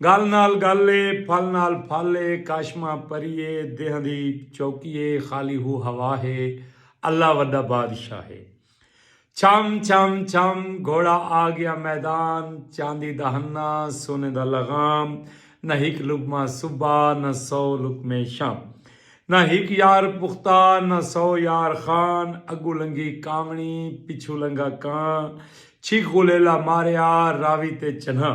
گل نال گل اے پھل نال پھل اے کاشما پری اے دیہاں دی چوکی اے خالی ہو ہوا ہے اللہ وڈا بادشاہ ہے چھم چھم چھم گھوڑا آ گیا میدان چاندی دا ہنا سونے دا لغام نہ ہک لقمہ صبا نہ سو لقمے شام نہ ہک یار پختہ نہ سو یار خان اگوں لنگھی کانوݨی پچھوں لنگھا کاں چھک غلیلا ماریا راوی تے چنہاں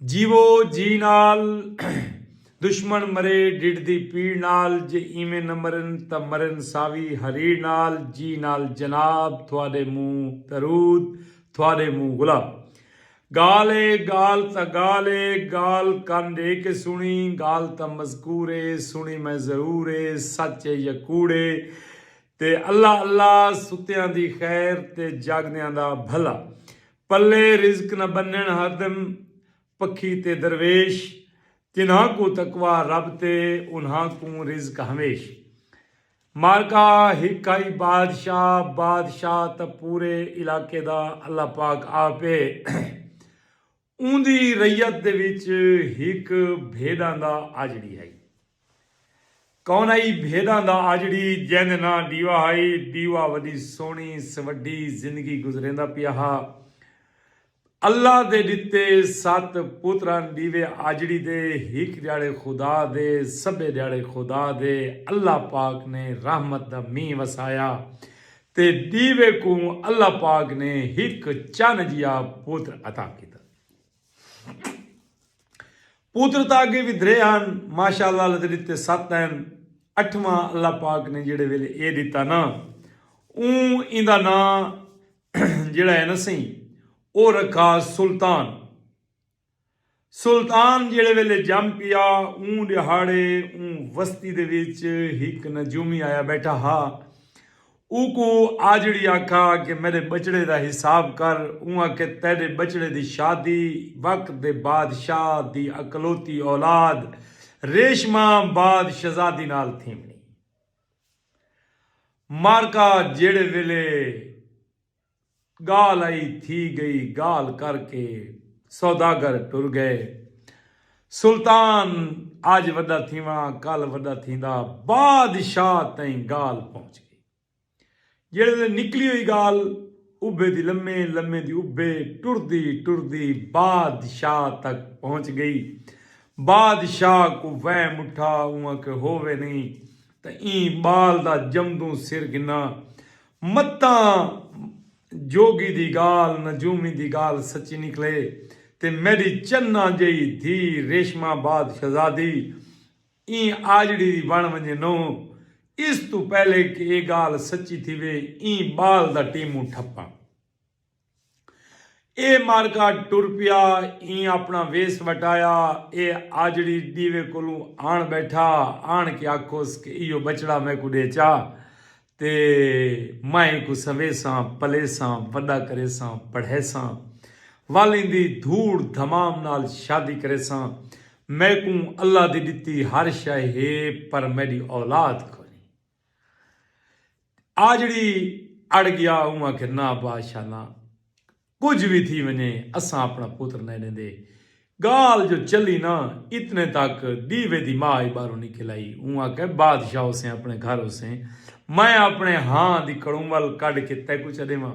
جیوو جی نال دشمن مرے ڈڈھ دی پیڑ نال جے ایویں نہ مرن تاں مرن ساوی ہریڑ نال جی نال جناب تھوڑے منہ درود تھوڑے منہ گلاب گال اے گال تاں گال اے گال کن ڈے کے سنڑی گال تاں مذکور اے سنڑی میں ضرور اے سچ اے یا کوڑ اے تے اللہ اللہ ستیاں دی خیر تے جاگدیاں دا بھلا پلے رزق نہ بنن ہردم پکھی تے درویش جنہاں کوں تقوی رب تے انہاں کوں رزق ہمیش معرکہ ہک ہئی بادشاہ بادشاہ تاں پورے علاقے دا اللہ پاک آپ ہے اوندی رعیت دے وچ ہک بھیݙاں دا آجڑی ہئی۔ کون ہئی بھیݙاں دا آجڑی جیندے ناں ݙیوا ہئی۔ ݙیوا وݙی سوہݨی سوڈھی زندگی گزریندا پیا ہا۔ اللہ دے ݙتے ست پتران ݙیوے آجڑی دے ہک ݙیہاڑے خدا دے سبھے ݙیہاڑے خدا دے اللہ پاک نے رحمت دا مینہ وسایا تے ݙیوے کوں اللہ پاک نے ہک چن جیا پتر عطا کیتا۔ پوتر تاں اگے وی درے ہن ماشاءاللہ اللہ دے ڈتے ست ہن اٹھواں اللہ پاک نے جیڑے ویلے اے ڈتا نا اوں ایندا ناں جیڑا ہے نا سہی او رکھا سلطان سلطان جیڑے ویلے جم پیا اون دہاڑے اون وستی دے وچ ہک نجومی آیا بیٹھا ہا اوکوں آجڑی آکھا کہ میڈے بچڑے دا حساب کر اوں آکھے تیڈے بچڑے دی شادی وقت دے بادشاہ دی اکلوتی اولاد ریشما بعد شہزادی نال تھیونڑی۔ مارکا جیڑھے ویلے۔ ڳالھ ائی تھی ڳئی ڳالھ کر کے سوداگر ٹر ڳئے۔ سلطان اج وݙا تھیواں کل وݙا تھیندا بادشاہ تئیں ڳالھ پہنچ ڳئی۔ جیڑھے ویلے نکلی ہوئی ڳالھ ابھے دی لمے لمے دی ابھے ٹردی ٹردی بادشاہ تک پہنچ ڳئی۔ بادشاہ کوں وہم اٹھا اوں آکھے ہووے نئیں تاں ایں ٻال دا جمدوں سر گھناں۔ متاں جوگی دی گالھ نجومی دی گالھ سچی نکلے تے میڈی چناں جئی دھی ریشمہ آباد شہزادی ایں آجڑی دی بن ونجے نوں اس توں پہلے کہ اے گالھ سچی تھیوے ایں بال دا ٹیموں ٹھپاں۔ اے مارکا ٹر پیا ایں اپنا ویس وٹایا اے آجڑی ڈیوے کولوں آن بیٹھا آن کے آکھوس کہ ایہو بچڑا میکوں ڈے چا تے میں اینکوں سنویساں پلیساں وڈا کریساں پڑھیساں ول ایندی دھوڑ دھمام نال شادی کریساں میکوں اللہ دی ڈتی ہر شے ہے پر میڈی اولاد کونی۔ آجڑی اڑ گیا اوں آکھے نہ بادشاہ نہ کجھ وی تھی ونجے اساں اپنا پتر نئیں ڈیندے گالھ جو چلی نہ اتنے تک دیوے دی ماء ای باہروں نکل آئی اوں آکھے بادشاہ ہوسیں اپنے گھر ہوسیں میں اپنے ہاں دی کڑوں ول کڈھ کے تیکوں چا ڈیواں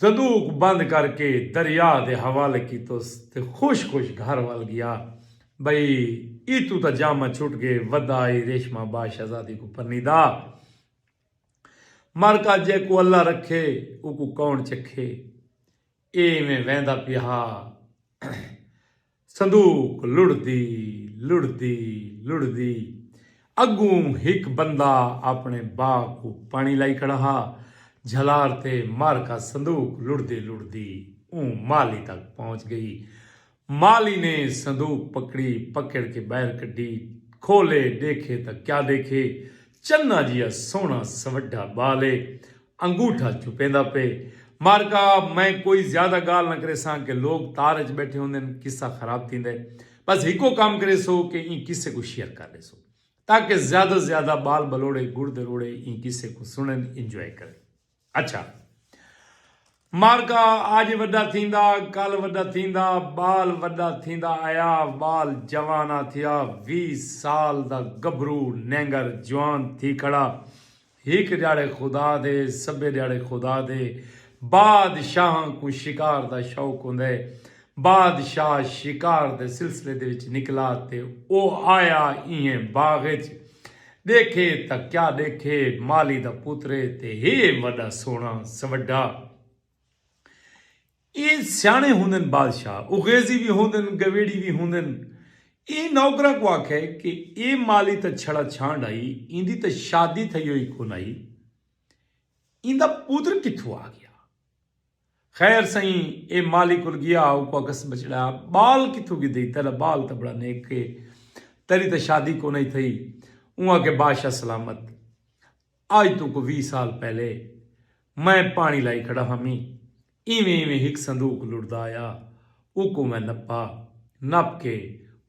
صدوق بند کر کے دریا دے حوالے کیتس تے خوش خوش گھر ول گیا۔ بئی ای توں تاں جامہ چھٹ گے ودا ای ریشمہ با شہزادی کوں پنی دا۔ مر کا جے کو اللہ رکھے او کو کون چکھے۔ اے ایویں ویندا پیا ہا۔ صندوق لڑھدی لڑھدی لڑھدی اڳوں ہک بندہ آپݨے بھا کوں پاݨی لائی کھڑا ہا جھلار تے مارکا صندوق لڑھدی لڑھدی اوں مالی تک پہنچ ڳئی مالی نے صندوق پکڑی پکڑ کے ٻاہر کڈھی کھولے ݙیکھے تاں کیا ݙیکھے چنا جیا سوہݨا سوڈھا ٻال اے انگوٹھا چھپیندا پئے۔ مارکا، میں کوئی زیادہ گالھ نہ کریساں کہ لوک تار اچ بیٹھے ہوندے ہن، قصہ خراب تھیندا ہے۔ بس ہکو کم کریسو کہ ایں قصے کوں شیئر کر ݙیسو۔ تاکہ زیادہ توں زیادہ ٻال ٻلوڑے، گڑ دروڑے ایں قصے کوں سݨن، انجوائے کرن۔ اچھا! معرکہ اج وݙا تھیندا کل وݙا تھیندا ٻال وݙا تھیندا آیا ٻال جوان آ تھیا ویہہ سال دا گبھرو نینگر جوان تھی کھڑا ہک ݙیہاڑے خدا دے سبھے ݙیہاڑے خدا دے باد شاہاں کوں شکار دا شوق ہوندے بادشاہ شکار دے سلسلے دے وچ نکلا تے او آیا ایہہ باغ اچ ڈیکھے تاں کیا ڈیکھے مالی دا پتر اے تے ہے وڈا سوہنا سوڈھا اے سیانے ہوندن بادشاہ اغیزی وی ہوندن گویڑی وی ہوندن اے نوکراں کوں آکھے کہ اے مالی تاں چھڑا چھانڈ آئی ایندی تاں شادی تھئی ہوئی کونائی ایندا پتر کتھوں آگیا۔ خیر سئیں اے مالی کول گیا ہا اوکوں آکھس بچڑا ٻال کتھوں گھدئی تیݙا ٻال تاں ٻڑا نیک اے تیݙی تاں شادی کونہی تھئی اوں آکھے بادشاہ سلامت اڄ توں کو ویہہ سال پہلے میں پاݨی لائی کھڑا ہامی ایویں ایویں ہک صندوق لڑدا آیا اوکوں میں نپا نپ کے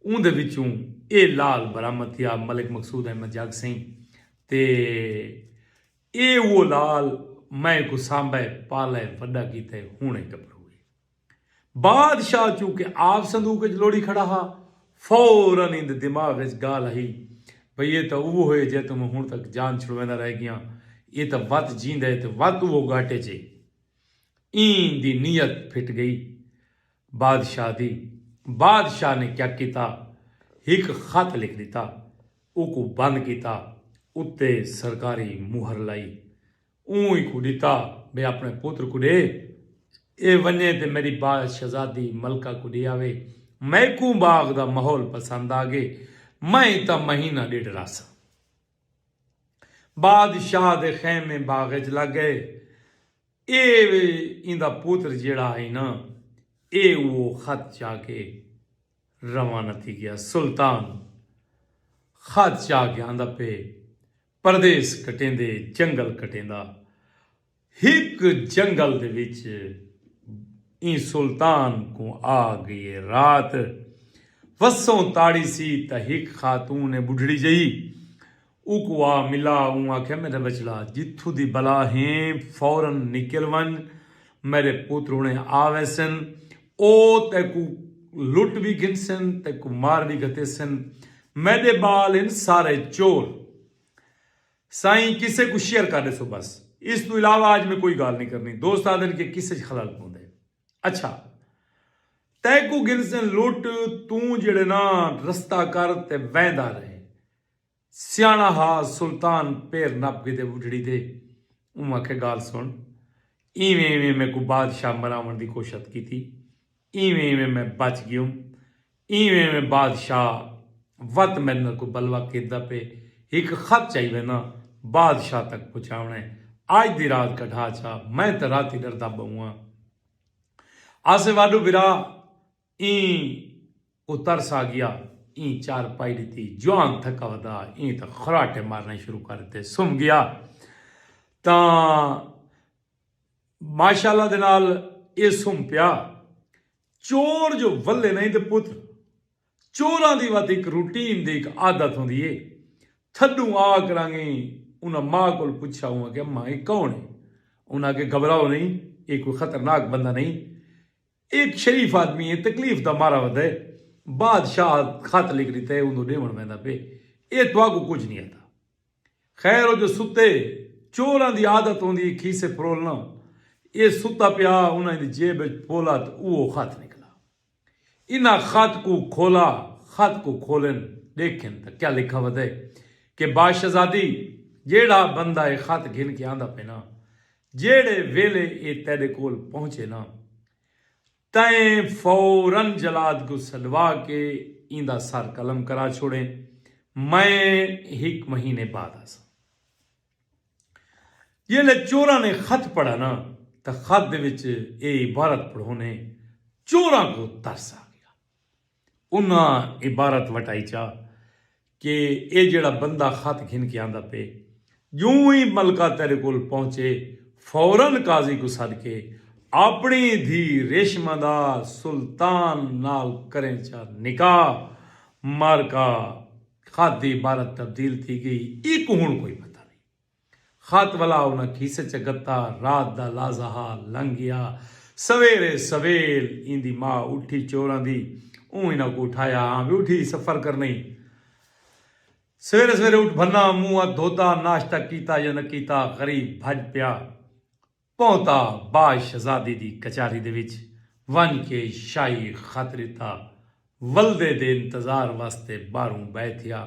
اوندے وچوں اے لعل برآمد تھیا ملک مقصود احمد جاڳ سئیں تے اے اوہ لال میں کوں سانبھئے پالئے وڈا کیتے ہونڑیں گبھرو اے۔ بادشاہ چونکہ آپ صندوق اچ لوڑی کھڑا ہا فورا ایندے دماغ اچ گالھ آئی بھئی اے تاں اوہو اے جیتوں میں ہنڑ تک جان چھڑویندا رہ گیاں اے تاں وت جیندا اے تے وت اوہو گھاٹے اچ اے۔ ایندی نیت پھٹ گئی۔ بادشاہ دی۔ بادشاہ نے کیا کیتا؟ ہک خط لکھ ݙتا۔ اوکوں بند کیتا۔ اتے سرکاری مہر لائی۔ اوں ایکوں ݙتا بھئی اپݨے پتر کوں ݙے۔ ایہ ونڄے تے میݙی باز شہزادی ملکہ کوں ݙے آوے۔ میکوں باغ دا ماحول پسند آ ڳئے۔ میں اتاں مہینہ ݙیڈھ رہساں۔ بادشاہ دے خیمے باغ اچ لگ گئے۔ اے وے ایندا پوتر جیہڑا ہئی نا اے اوہو خط چا کے روانہ تھی گیا۔ سلطان خط چا کے آندا پئے پردیس کٹیندے جنگل کٹیندا۔ ہک جنگل دے وچ ایں سلطان کوں آ گئی اے رات۔ وسوں تاڑی سی تاں ہک خاتون اے بڈھڑی جئی اوکوں آ ملا اوں آکھیا میڈا بچڑا جتھوں دی بلا ہیں فورا نکل ونج میڈے پتر ہنڑے آ ویسن او تیکوں لٹ وی گھنسن تیکوں مار وی گھتیسن میڈے بال ہن سارے چور۔ سائیں قصے کوں شیئر کر ڈیسو بس اس توں علاوہ اج میں کوئی گال نہیں کرنی دوست آدھن کے قصے چ خلل پوندے اچھا تیکو گنسن لٹ توں جڑے نا رستہ کر تے ویندا رہے سیانا ہا سلطان پیر نپ گھدے بڈھڑی دے اوں آکھے گال سن ایویں ایویں میکوں بادشاہ مراون دی کوشت کیتی ایویں ایویں میں بچ گیوم۔ ایویں ایویں بادشاہ وت میڈ نال کوئی بلوا کیتا پے ہک خط چائی وینداں بادشاہ تک پہنچاونے آج دی رات کڈھا چا میں تے راتی ڈردا بہواں آسے واڈو برا ایں کوں ترس آگیا ایں چار پائی ڈتی جوان تھکا ودا ایں تاں خراٹے مارنے شروع کر ڈتے سم گیا تاں ماشاءاللہ دے نال اے سم پیا۔ چور جو ولے نئیں تے پتر۔ چوراں دی وت ہک روٹین دی ہک عادت ہوندی اے۔ تھڈوں آ کرانگے انہاں ماء کول پچھیا اوں آکھیا ماں اے کون اے؟ انہاں آکھیا گھبراؤ نئیں اے کوئی خطرناک بندہ نئیں۔ اے ہک شریف آدمی اے تکلیف دا مارا ودا اے۔ بادشاہ خط لکھ ڈتا اے اوندوں ڈیونڑ ویندا پئے۔ اے تہاکوں کجھ نئیں آندا۔ خیر او جو ستے چوراں دی عادت ہوندی اے کھیسے پھرولنا، اے ستا پیا انہاں دی جیب اچ پھولا تے اوہو خط نکلا۔ انہاں خط کوں کھولا، خط کوں کھولن ڈیکھن تاں کیا لکھا ودے کہ باشزادی جیڑھا بندہ اے خط گھن کے آندا پینا، جیڑھے ویلے اے تیڈے کول پہنچے نا، تئیں فورا جلاد کوں سݙوا کے ایندا سر قلم کرا چھوڑیں۔ میں ہک مہینے بعد آساں۔ جیلھے چوراں نے خط پڑھا نا تاں خط دے وچ اے عبارت پڑھونے چوراں کوں ترس آ گیا۔ انہاں عبارت وٹائی چا کہ اے جیڑھا بندہ خط گھن کے آندا پئے جوں ای ملکہ تیڈے کول پہنچے فورا قاضی کوں سڈ کے آپنڑی دھی ریشمہ دا سلطان نال کریں چا نکاح مارکا خط دی عبارت تبدیل تھی گئی ایکوں ہنڑ کوئی پتہ نئیں۔ خط ولا انہاں کھیسے چ گھتا۔ رات دا لازہا لنگھ گیا۔ سویرے سویل ایندی ماء اٹھی چوراں دی۔ اوں انہاں کوں اٹھایا۔ ہاں وی اٹھی سفر کرنئیں۔ سویرے سویرے اٹھ بھنا منہ ہتھ دھوتا، ناشتہ کیتا یا نہ کیتا، غریب بھج پیا۔ پہنتا باز شہزادی دی کچاری دے وچ ونج کے شاہی خط ڈتا۔ ولدے دے انتظار واسطے باہروں بہہ تھیا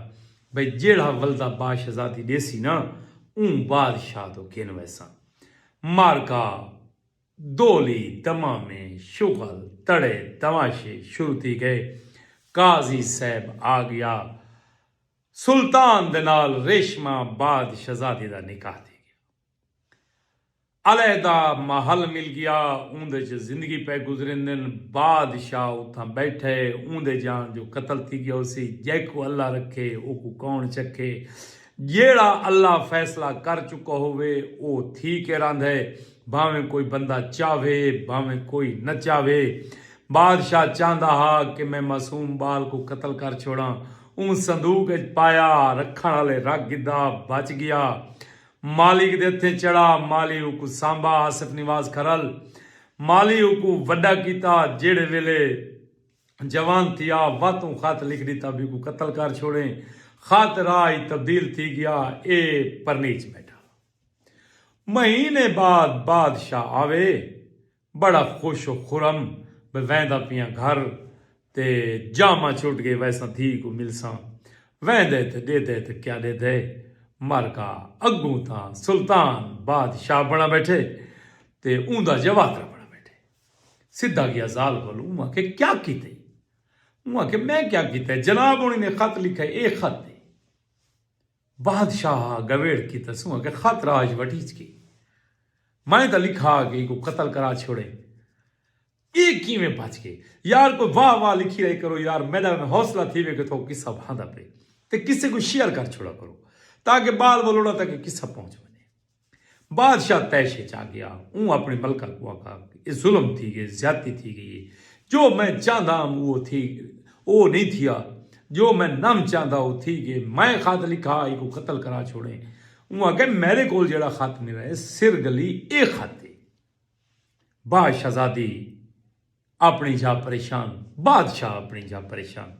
بھئی جیڑھا ولدہ باز شہزادی ڈیسی نا اوں باز شاہ توں گھن ویساں۔ معرکہ، دولی، دمامے، شغل، تڑے، تماشے شروع تھی گئے۔ قاضی صاحب آ گیا۔ سلطان دے نال ریشمہ باز شہزادی دا نکاح تھی گیا۔ علیحدہ محل مل گیا اوندے چ زندگی پئے گزریندن بادشاہ اتھاں بیٹھے اوندے جان جو قتل تھی گیا ہوسی جیکوں اللہ رکھے اوکوں کون چکھے جیڑھا اللہ فیصلہ کر چکا ہووے او تھی کے راندھے بھانویں کوئی بندہ چاہوے بھانویں کوئی نہ چاہوے بادشاہ چاہندا ہا کہ میں معصوم بال کوں قتل کر چھوڑاں اوں صندوق اچ پایا رکھن آلے رکھ گھدا بچ گیا مالک دے ہتھیں چڑھا، مالی اوکوں سانبھا، آصف نواز کھرل، مالی اوکوں وڈا کیتا، جیڑھے ویلے جوان تھیا، وت اوں خط لکھ ڈتا بھیکوں قتل کر چھوڑیں، خط راہ ای تبدیل تھی گیا، اے پرنیچ بیٹھا۔ مہینے بعد بادشاہ آوے، بڑا خوش و خرم بہ ویندا پیاں گھر تے جاماں چھٹ گئے ویساں دھی کوں ملساں ویندے تے ڈیدے تے کیا ڈیدے مر گا اگوں تاں سلطان بادشاہ بنڑا بیٹھے تے اوندا جواترا بنڑا بیٹھے سدھا گیا زال کول اوں آکھے کیا کیتے اوں آکھے میں کیا کیتے جناب ہنڑی نے خط لکھئے اے خط اے۔ بادشاہ گویڑ کیتا سوں اگے خط راج وٹیچ کے میں تاں لکھا کے ایکوں قتل کرا چھوڑے اے کیویں بچ گئے یار کوئی واہ واہ لکھی رہے کرو یار میڈا میں حوصلہ تھیوے کے تھو قصہ بھاندا پے تے کسے کوں شیئر کر چھوڑا کرو تاکہ بال ولوڑا تک اے قصہ پہنچ ونجے۔ بادشاہ طیش اچ آ گیا۔ اوں اپݨی ملکہ کوں آکھا کہ ایہ ظلم تھی ڳئے، زیادتی تھی ڳئی ہے۔ جو میں چاہندا ہم او تھی او نئیں تھیا۔ جو میں نم چاہندا او تھی ڳئے۔ میں خط لکھا ہا ایکوں قتل کرا چھوڑیں۔ اوں آکھیا میݙے کولھ جیڑھا خط ملا ہے سر گلی ایہ خط ہے۔ بعد شہزادی اپݨی جاہ پریشان۔ بادشاہ اپݨی جاہ پریشان۔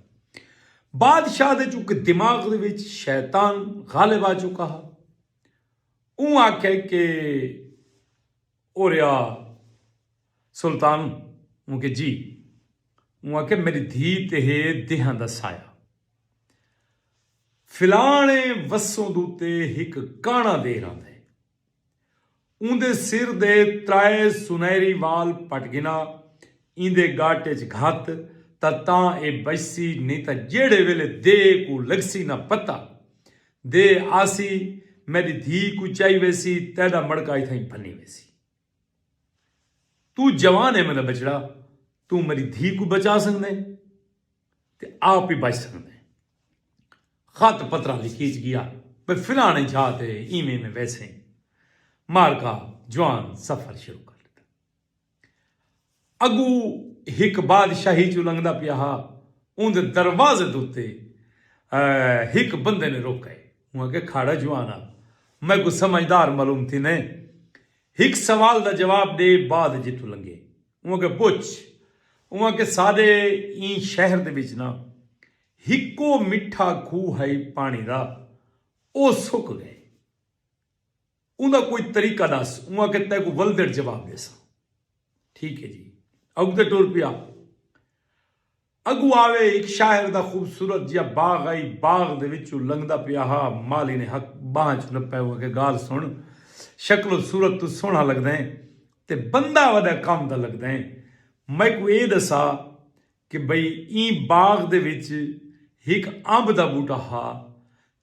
بادشاہ دے چونکہ دماغ دے وچ شیطان غالب آ چکا ہا۔ اوں آکھیا کہ او ریا سلطان اوں کہ جی اوں آکھیا میڈی دھی تے ہے دیہاں دا سایہ فلاں اے وسوں دو تے ہک کانا دیر آندا ہے اوندے سر دے ترائے سنہری وال پٹ گھنا ایندے گٹ اچ گھت تاں تاں اے بچسی نئیں تاں جیہڑے ویلے دے کوں لگسی نہ پتہ۔ دے آسی میڈی دھی کوں چائی ویسی تیڈا مڑکا اتھائیں بھنی ویسی۔ توں جوان اے میڈا بچڑا توں میڈی دھی کوں بچا سگدیں۔ تے آپ ہی بچ سکدے ہیں۔ خط پتراں لکھیج گیا بھئی فلانے جھا تے ایویں ایویں ویسیں۔ مارکا جوان سفر شروع کر ݙتا۔ اڳوں ہک بادشاہی چوں لنگھدا پیا ہا اوندے دروازے دے اتے ہک بندے نے روکئے۔ اوں آکھیا کھاڑا جوان آ میکوں سمجھدار معلوم تھیندیں۔ ہک سوال دا جواب ݙے بعد جتوں لنگھیں۔ اوہ آکھیا پچھ اوہ کہ ساڈے ایں شہر دے وچ ناں ہکو مٹھا کھوہ ہئی پانی دا او سک گئے اوندا کوئی طریقہ ڈس اوہ آکھیا تیکوں ولدڑ جواب ڈیساں ٹھیک ہے جی اگتے ٹر پیا۔ اگو آوے ہک شاعر دا خوبصورت جیا باغ آئی باغ دے وچوں لنگھدا پیا ہا مالی نے ہک بانہہ اچ نپے اوں آکھے گال سن شکل و صورت توں سوہنڑا لگدیں تے بندہ وڈا کم دا لگدیں میکوں اے دسا کہ بھئی ایں باغ دے وچ ہک امب دا بوٹا ہا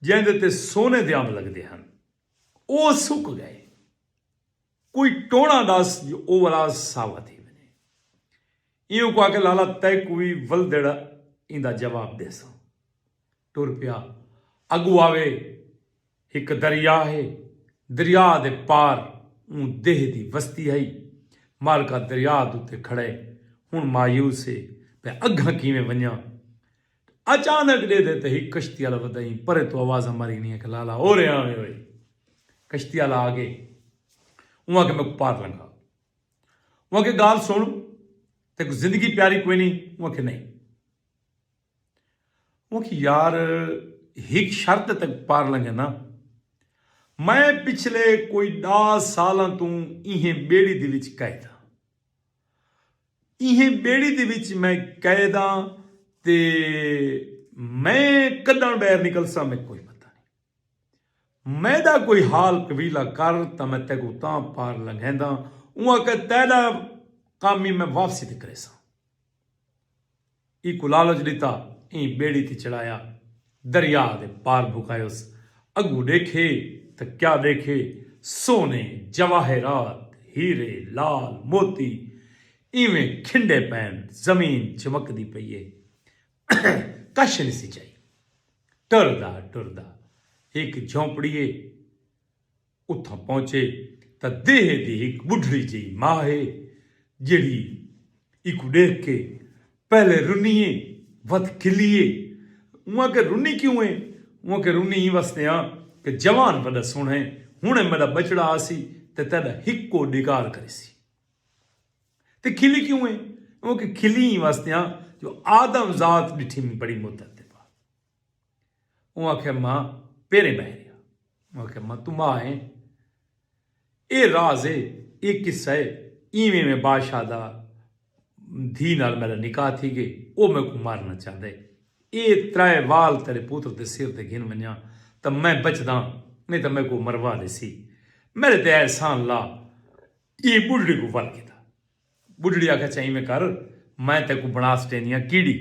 جیندے تے سونے دے امب لگدے ہن او سک گئے کوئی ٹوݨا ݙس جو او ولا ساوا تھی ونڄے۔ ایہوں کوں آکھے لالا تیکوں وی ولدڑ ایندا جواب ݙیساں۔ ٹر پیا۔ اڳوں آوے ہک دریا ہے۔ دریا دے پار اوں دیہہ دی وستی ہئی۔ مالکا دریا دے اتے کھڑئے۔ ہݨ مایوس ہے۔ میں اڳاں کیویں ونڄاں۔ اچانک ڈیدھے تے ہک کشتی آلا ودائیں پرے توں آوازاں ماری گنی آکھیا لالا او رے آویں وئی کشتی آلا آ گئے اوں آکھیا میکوں پار لنگھا اوں آکھیا گال سن تیکوں زندگی پیاری کوئی نہیں اوں آکھیا نہیں اوں آکھیا یار ہک شرط تک پار لنگھے نا میں پچھلے کوئی ڈا سالاں توں ایہیں بیڑی دی وچ قید ہاں ایہیں ٻیڑی دے وچ میں قید آں تے میں کݙݨ ٻہر نکلساں میکوں کوئی پتہ نئیں۔ میݙا کوئی حال قبیلہ کر تاں میں تیکوں تاں پار لنگھینداں اوں آکھیا تیݙا کم ای میں واپسی تے کریساں۔ ایکوں لالچ ݙتا ایں ٻیڑی تے چڑھایا دریا دے پار بھکایوس اڳوں ݙیکھے تاں کیا ݙیکھے سونے جواہرات ہیرے لال موتی ایویں کھنڈے پئن زمین چمکدی پئی اے کچھ نھسی چائی ٹردا ٹردا ہک جھونپڑی اے اتھاں پہنچے تاں دیہہ دی ہک ٻڈھڑی جئی ماء ہے جیڑھی ایکوں ݙیکھ کے پہلے رنی اے ودھ کھلی اے۔ اوں آکھیا رنی کیوں اے؟ اوں آکھیا رنی ایں واسطے آں کہ جوان وݙا سوہݨا اے ہݨے میݙا ٻچڑا آسی تے تیݙا ہکو ݙیکار کریسی۔ تے کھلی کیوں اے؟ اوں آکھیا کھلی ایں واسطے آں جو آدم ذات ݙٹھی مینکوں بڑی مدت دے بعد۔ اوں آکھیا ماں پیریں ٻہہ رہیا۔ اوں آکھیا ماں توں ماء ایں اے راز اے اے قصہ اے اینویں میں بادشاہ دا دھی نال میڈا نکاح تھی گئے او میکوں مارنا چاہندا اے اے ترائے وال تیڈے پوتر دے سر تے گھن ونجاں تاں میں بچداں نئیں تاں میکوں او مروا ڈیسی میڈے تے احسان لا ایں بڈھڑی کوں ول گھدا ٻڈھڑی آکھیا چہ اینویں کر میں تیکوں بݨا سٹیندی ہاں کیڑی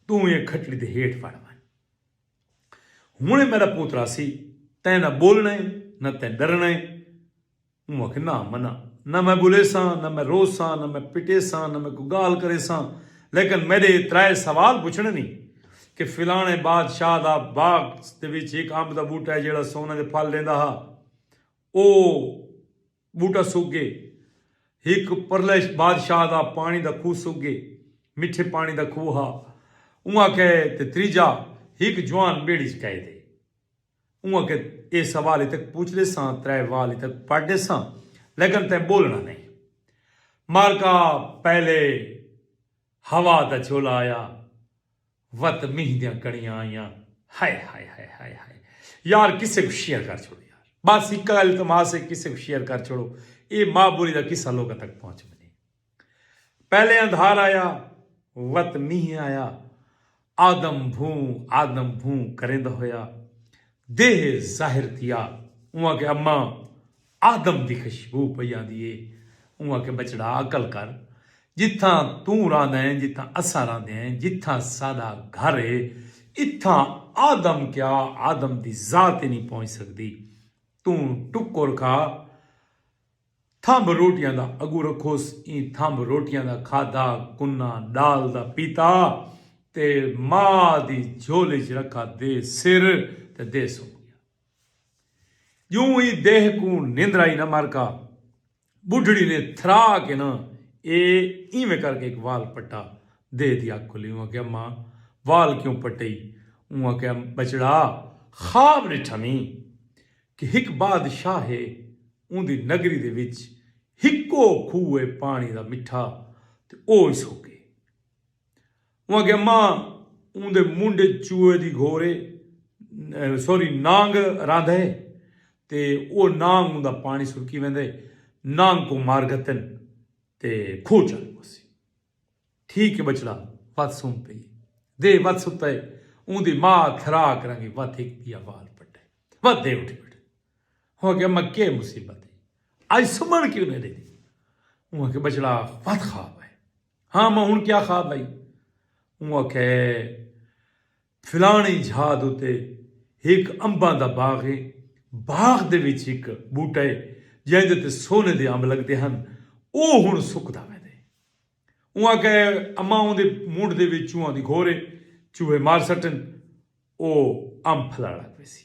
توں ایں کھٹڑی دے ہیٹھ وڑ ونڄ ہݨیں میݙا پوتر آسی تیں نہ ٻولݨا اے نہ تیں ݙرݨا اے اوں آکھیا نہ مناں نہ میں ٻولیساں نہ میں روساں نہ میں پٹیساں نہ میں کوئی ڳالھ کریساں لیکن میݙے اے ترائے سوال پچھݨے نی کہ فلاݨے بادشاہ دا باغ دے وچ ہک امب دا ٻوٹا اے جیڑھا سونے دے پھل ݙیندا ہا او ٻوٹا سک ڳئے۔ ہک پرلے بادشاہ دا پاݨی دا کھوہ سک ڳئے۔ مٹھے پاݨی دا کھوہ ہا۔ اونہاں کہے تے تریجھا ہک جوان ٻیڑی اچ کہے تے اونہاں کہے ایہ سوال اتک پوچھ ݙیساں ترے وال اتک پٹ ݙیساں لیکن تیں ٻولݨا نئیں۔ مارکا پہلے ہوا دا جھولا آیا۔ وت مینہ دیاں کڑیاں آئیاں ہائے ہائے ہائے ہائے ہائے یار قصے کوں شیئر کر چھوڑو یار بس ہکا التماس ہے قصے کوں شیئر کر چھوڑو اے ماں بولی دا قصہ لوکاں تک پہنچ ونجے پہلے اندھار آیا وت مینہ آیا آدم بھوں آدم بھوں کریندا ہویا دیہہ ظاہر تھیا اوں آکھیا اماں آدم دی خشبو پئی آندی اے۔ اوں آکھیا ٻچڑا عقل کر جتھاں توں رہندا ایں جتھاں اساں رہندے ہیں جتھاں ساݙا گھر اے اتھاں آدم کیا آدم دی ذات ای نی پہنچ سڳدی توں ٹکر کھا تھمب روٹیاں دا اڳوں رکھوس ایں تھمب روٹیاں دا کھادا کناں ݙال دا پیتا تے ماء دی جھولی ءچ رکھا دے سر تے دے سم ڳیا۔ جوں ای دیہہ کوں نندرا ای نہ مر کا بڈھڑی نے تھرا کے نہ اے ایویں کر کے ہک وال پٹا دیہہ دی اکھ کھلی اوں آکھیا ماں وال کیوں پٹئی اوں آکھیا بچڑا خواب ڈٹھا میں کہ ہک بادشاہ ہے اوندی نگری دے وچ ہکو کھوہ ہے پانی دا مٹھا تے او اس ہوکے اوں آکھیا ماں اوں دے منڈھ اچ چوہے دی گھور اے سوری نانگ رہندا اے تے او نانگ اوں دا پانڑی سرکی ویندا اے نانگ کوں مار گھتن تے کھوہ چ آنی پوسی ٹھیک اے بچڑا وت سم پئی اے دے وت ستا اے اوں دی ماء تھرا کرانگی وت ہک دیا وال پٹے وت دے اٹھ بیٹھے اوں آکھیا ماں کے مصیبت اے اج سمن کیوں نئیں ڈیندی اوں آکھیا بچڑا وت خواب آئے۔ ہاں ماں ہن کیا خواب ہئی؟ اوں آکھیا ہے فلانڑی جھا دے اتے ہک امباں دا باغ ہے۔ باغ دے وچ ہک بوٹا ہے جیندے تے سونے دے امب لگدے ہن۔ او ہن سکدا ویندے۔ اوں آکھیا ہے اماں اوندے مونڈھ دے وچ چوہاں دی گھور ہے۔ چوہے مار سٹن او امب پھلڑ لگ ویسی۔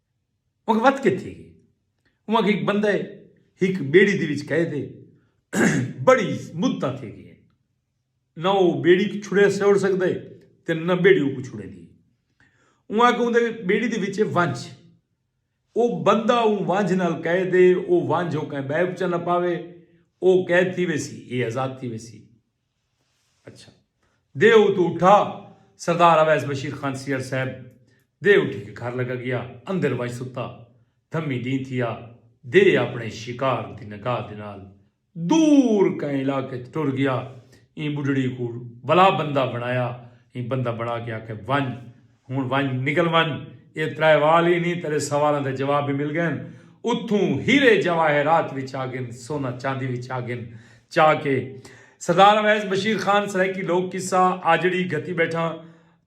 اوکوں وت کے تھی گئی۔ اوکوں ہک بندہ ہے ہک بیڑی دی وچ کہے دے بڑی مدتاں تھی گئی ہیں۔ نہ وہ بیڑی کو چھڑے سوڑ سکتا ہے تے نہ بیڑی اوکوں چھڑے دی۔ اوکوں اندے بیڑی دی وچ ونج۔ وہ بندہ اون ونج نال کہے دے وہ ونج اوکیں بیپ چنہ پاوے وہ قید تھی ویسی یہ آزاد تھی ویسی۔ اچھا دے اتو اٹھا سردار اویس بشیر خان سیئر صاحب دے اٹھی کے گھر لگا گیا اندر ونج ستا دھمی ڈینھ تھیا دے اپنے شکار دی نگاہ دے نال دور کہیں علاقے اچ ٹر گیا ایں بڈھڑی کوں ولا بندہ بنایا ایں بندہ بنا کے آکھے ونج ہݨ ونڄ نکل ونڄ، ایہ ترائے وال ای نی تیݙے سوالاں دے جواب وی مل ڳئن، اتھوں ہیرے جواہرات وی چا ڳن، سونا چاندی وی چا ڳن، چا کے سردار اویس بشیر خان سرائیکی لوک قصہ آجڑی گھتی ٻیٹھاں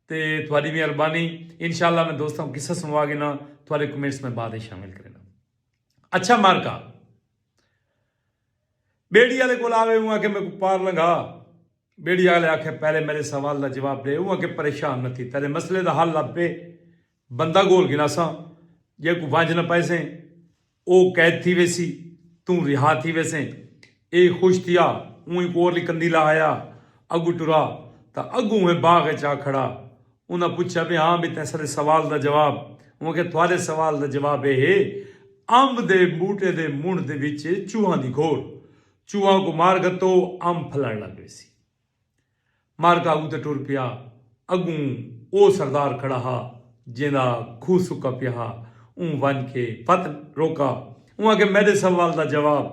تے تہاݙی مہربانی انشاء اللہ میں دوستاں کوں قصہ سݨوا ڳنا تہاݙے کمنٹس میں بعد اچ شامل کرینداں اچھا معرکہ۔ ٻیڑی آلے کول آوے اوں آکھے میکوں پار لنگھا۔ ٻیڑی آلے آکھے پہلے میݙے سوال دا جواب ݙے اوں آکھے پریشان نہ تھی تیݙے مسئلے دا حل لبھ پئے بندہ گول گھناساں جیکوں ونڄ نہ پائیسیں او قید تھی ویسی توں رہا تھی ویسیں اے خوش تھیا اوں ہک ہور لی کندی لا آیا اڳوں ٹرا تاں اڳوں اوہیں باغ اچ آ کھڑا انہاں پچھیا وی ہاں وی تیساں دے سوال دا جواب اوں آکھیا تہاڈے سوال دا جواب اے ہے امب دے بوٹے دے منڈھ دے وچ چوہاں دی گھور چوہاں کوں مار گھتو امب پھلن لگ ویسی مارکا اگوں تے ٹر پیا اگوں او سردار کھڑا ہا جیندا کھوہ سکا پیا ہا اوں ونج کے پت روکا اوں آکھیا میڈے سوال دا جواب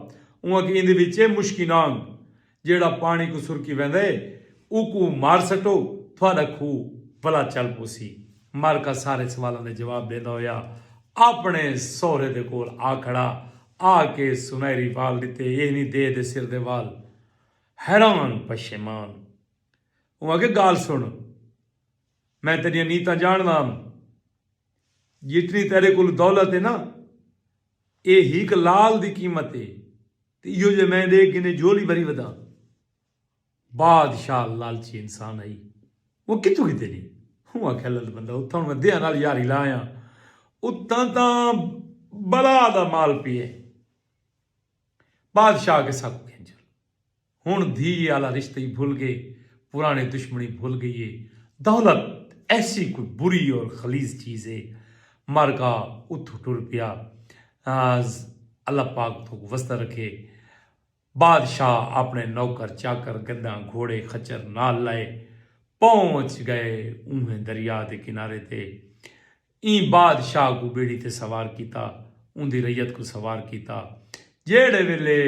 اوں آکھیا ایندے وچ اے مشکی نانگ جیڑھا پاݨی کوں سرکی ویندا اے اوکوں مار سٹو تہاݙا کھوہ بھلا چل پوسی۔ مارکا سارے سوالاں دے جواب ݙیندا ہویا آپݨے سہرے دے کول آ کھڑا۔ آ کے سنہری وال ݙتے اینی دے دے سر دے وال حیران پشیمان۔ اوں آکھیا ڳالھ سݨ میں تیݙیاں نیتاں ڄاݨدا ہم۔ جتنی تیݙے کول دولت اے نا اے ہک لعل دی قیمت اے۔ تے ایہو جئے میں ݙے گھنے جھولی بھری ودھاں۔ بادشاہ لالچی انسان ہئی۔ اوہ کتھوں گھدے نی۔ اوں آکھیا لد بندہ اتھاں ہݨ میں دیہاں نال یاری لا آیاں۔ اتھاں تاں بلا دا مال پئے ہئے۔ بادشاہ آکھے ساکوں گھن چل۔ ہݨ دھی آلا رشتہ ای بھل ڳئے، پراݨی دشمنی بھل ڳئی ہے۔ دولت ایسی کوئی بری اور خلیظ چیز ہے۔ مر گھا اتھوں ٹر پیا۔ ناز اللہ پاک تھوک وسدا رکھے۔ بادشاہ آپنے نوکر چاکر گدھاں گھوڑے خچر نال لائے پہنچ گئے اونہیں دریا دے کنارے تے ایں بادشاہ کوں بیڑی تے سوار کیتا اوندی رعیت کوں سوار کیتا جیہڑے ویلے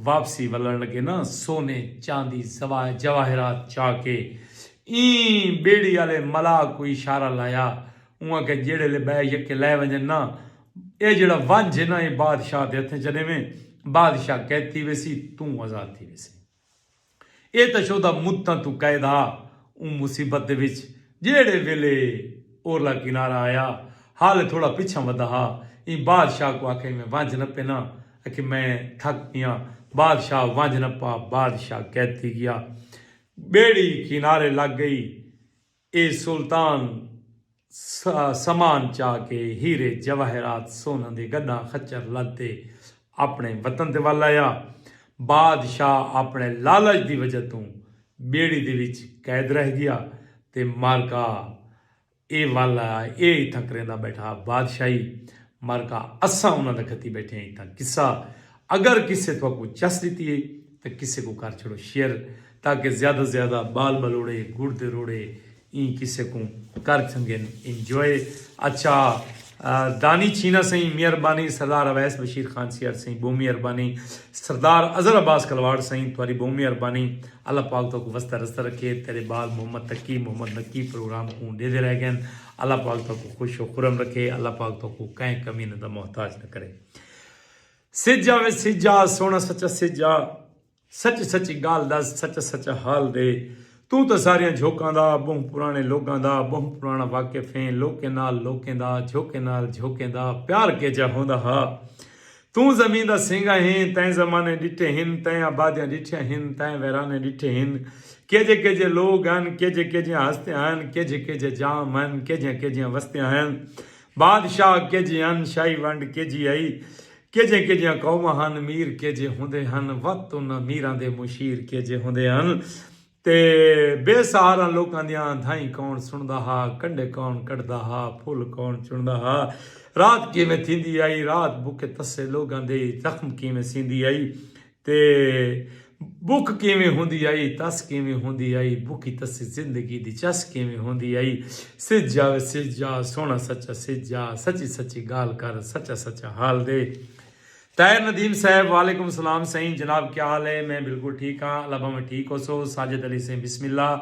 واپسی ولن لگے نا سونے چاندی جواہرات چا کے ایں بیڑی آلے ملاح کوں اشارہ لایا اوں آکھیا جیڑھے لے بئے یکے لائے ونجن نا اے جیڑھا ونج ہے نا اے بادشاہ دے ہتھیں چا ڈیویں بادشاہ قید تھی ویسی توں آزاد تھی ویسیں اے تاں شودا مدتاں توں قید ہا اوں مصیبت دے وچ جیڑھے ویلے اورلا کنارہ آیا حال تھوڑا پچھاں ودھا ہا ایں بادشاہ کوں آکھیا ایویں ونج نا پے نا اکھے میں تھک پیاں بادشاہ ونج نا پا بادشاہ قید تھی گیا بیڑی کنارے لگ گئی۔ اے سلطان سامان چا کے ہیرے جواہرات سونہاں دے گݙاں خچر لد تے آپݨے وطن تے ول آیا۔ بادشاہ آپݨے لالچ دی وجہ توں ٻیڑی دے وچ قید رہ ڳیا تے مر کا اے ول آیا اے اتھاں کریندا ٻیٹھا بادشاہی مر کا اساں انہاں دا کھتی ٻیٹھے ہیں اتھاں قصہ اگر کسے تہاکوں چس ڈتی ہے تاں کسے کوں کر چھڑو شیئر تاکہ زیادہ زیادہ بال بلوڑے گڑ دے روڑے ایں کسے کوں کر چھنگن Enjoy اچھا دانی چھینا سئیں مہربانی سردار اویس بشیر خان سیال سئیں بہوں مہربانی سردار اظہر عباس کلواڑ سئیں تہاڈی بہوں مہربانی اللہ پاک تہاکوں وسدا رسدا رکھے تیڈے بال محمد تقی محمد نقی پروگرام کوں ڈیدے رہ گئن اللہ پاک تہاکوں خوش و خرم رکھے اللہ پاک تہاکوں کہیں کمینہ دا محتاج نہ کرے۔ سجا وے سجا سونا سچا سجا سچ سچی گال دس سچا سچا حال دے توں تاں ساریاں جھوکاں دا بہوں پرانے لوکاں دا بہوں پرانا واقف ہیں لوکیں نال لوکیں دا جھوکیں نال جھوکیں دا پیار کیجا ہوندا ہا توں زمین دا سینگا ہیں تیں زمانے ڈٹھے ہن تیں آبادیاں ڈٹھیاں ہن تیں ویرانے ڈٹھے ہن کیجے کیجے لوگ ہن کیجے کیجیاں ہستیاں ہن کیجے کیجے جام ہن کیجیاں کیجیاں وستیاں ہن بادشاہ کیجھے ہن، شاہی ونڈ کیجھی ہئی، کیجھیاں کیجھیاں قوماں ہن، میر کیجھے ہوندے ہن، وت انہاں میراں دے مشیر کیجھے ہوندے ہن تے بے سہاراں لوکاں دیاں دھائیں کون سݨدا ہا، کنڈے کون کڈھدا ہا، پھل کون چݨدا ہا، رات کیویں تھیندی ہئی، رات بکھے تسے لوکاں دے زخم کیویں سیندی ہئی، تے بک کیویں ہوندی آئی تس کیویں ہوندی آئی بکی تسی زندگی دی چس کیویں ہوندی آئی سج جاوے سج جا سونا سچا سج جا سچی سچی گال کر سچا سچا حال دے طاہر ندیم صاحب وعلیکم السلام سائیں جناب کیا حال ہے میں بالکل ٹھیک ہاں اللہ بھاویں ٹھیک ہو سو ساجد علی سائیں بسم اللہ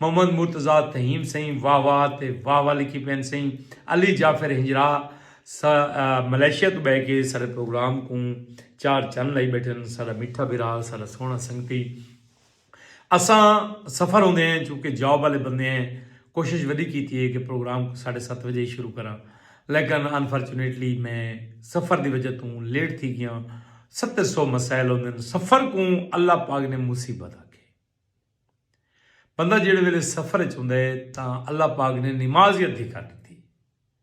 محمد مرتضی تہیم سائیں واہ واہ تے واہ واہ لکھی پین سائیں علی جعفر ہنجرا ساں ملائیشیا توں بہہ کے ساڈے پروگرام کوں چار چن لائی بیٹھن ساڈا میٹھا بھرا ساڈا سوہنا سنگتی اساں سفر ہوندے ہیں چونکہ جاب والے بندے ہیں کوشش وڈی کیتی ہے کہ پروگرام کو ساڈے ست بجے ہی شروع کراں لیکن انفارچونیٹلی میں سفر دی وجہ توں لیٹ تھی گیا ست سو مسائل ہوندے ہیں سفر کوں اللہ پاک نے مصیبت آ کے بندہ جیڑے ویلے سفر چ ہوندے تاں اللہ پاک نے نماز ہی ادھی کر دیتی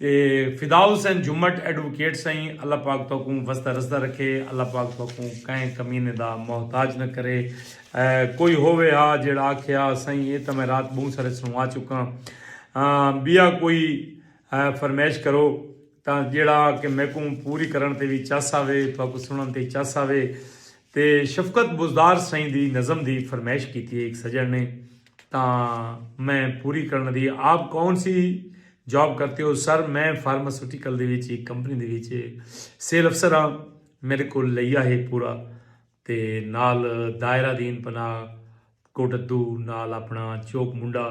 تے فدا حسین جھمٹ ایڈووکیٹ سئیں اللہ پاک تہاکوں وسدا رسدا رکھے اللہ پاک تہاکوں کہیں کمینے دا محتاج نہ کرے کوئی ہووے ہا جیڑھا آکھے ہا سئیں اے تاں میں رات بہوں سارے سنوا چکاں بیا کوئی فرمیش کرو تاں جیڑھا کہ میکوں پوری کرن تے وی چس آوے تہاکوں سنن تے چس آوے تے شفقت بزدار سئیں دی نظم دی فرمیش کیتی ہے ایک سجن نے تاں میں پوری کرݨ دی ہے۔ آپ کون سی جاب کرتے ہو؟ سر میں فارماسیوٹیکل دے وچ ہک کمپنی دے وچ سیل افسر ہاں۔ میݙے کول لئیا ہے پورا تے نال دائرہ دین پناہ کوٹدو نال اپݨا چوک منڈا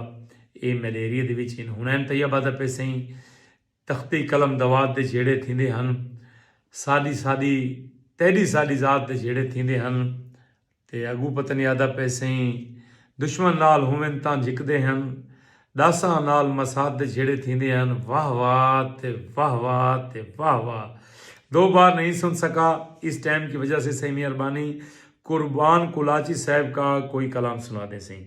اے میݙے ایریے دے وچ ہن۔ حنین طیبہ دا پئے سئیں۔ تختی قلم دوات دے جھیڑے تھیندے ہن، ساݙی ساݙی تیݙی ساݙی ذات دے جھیڑے تھیندے ہن تے اڳوں پتہ نی آہدا پئے سئیں دشمن نال ہوون تاں جھکدے ہن، ݙاساں نال مسات دے جھیڑے تھیندے ہن، واہ واہ تے واہ واہ تے واہ واہ دو بار نہیں سن سکا اس ٹائم کی وجہ سے سئیں میاں ربانی قربان قلاچی صاحب کا کوئی کلام سنا دیں سئیں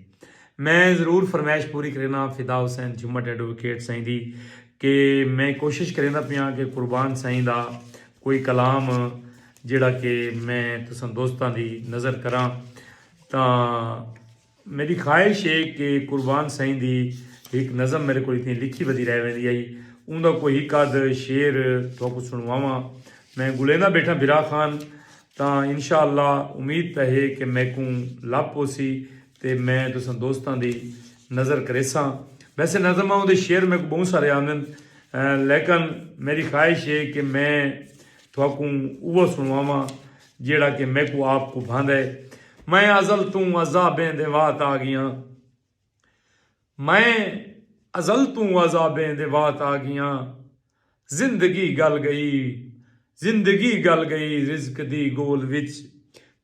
میں ضرور فرمائش پوری کرینا فدا حسین جھمٹ ایڈووکیٹ سائیں دی کہ میں کوشش کریندا پیاں کہ قربان سائیں دا کوئی کلام جیڑا کہ میں تساں دوستاں دی نظر کراں تاں میݙی خواہش ہے کہ قربان سئیں دی ہک نظم میݙے کول اتنی لکھی ودی رہ ویندی ہئی اوں دا کوئی ہک ادھ شعر تہاکوں سݨواواں میں ڳولیندا ٻیٹھاں بھرا خان تاں انشاء اللہ امید تاں ہے کہ میکوں لبھ پوسی تے میں تساں دوستاں دی نظر کریساں ویسے نظم اوں دے شعر میکوں ٻہوں سارے آندن لیکن میݙی خواہش ہے کہ میں تہاکوں اوہا سݨواواں جیہڑا کہ میکوں آپ کوں بھاندے۔ میں ازل توں عذابیں دے وات آگیاں۔ میں ازل توں عذابیں دے وات آگیاں۔ زندگی گل گئی۔ زندگی گل گئی رزق دی گول وچ۔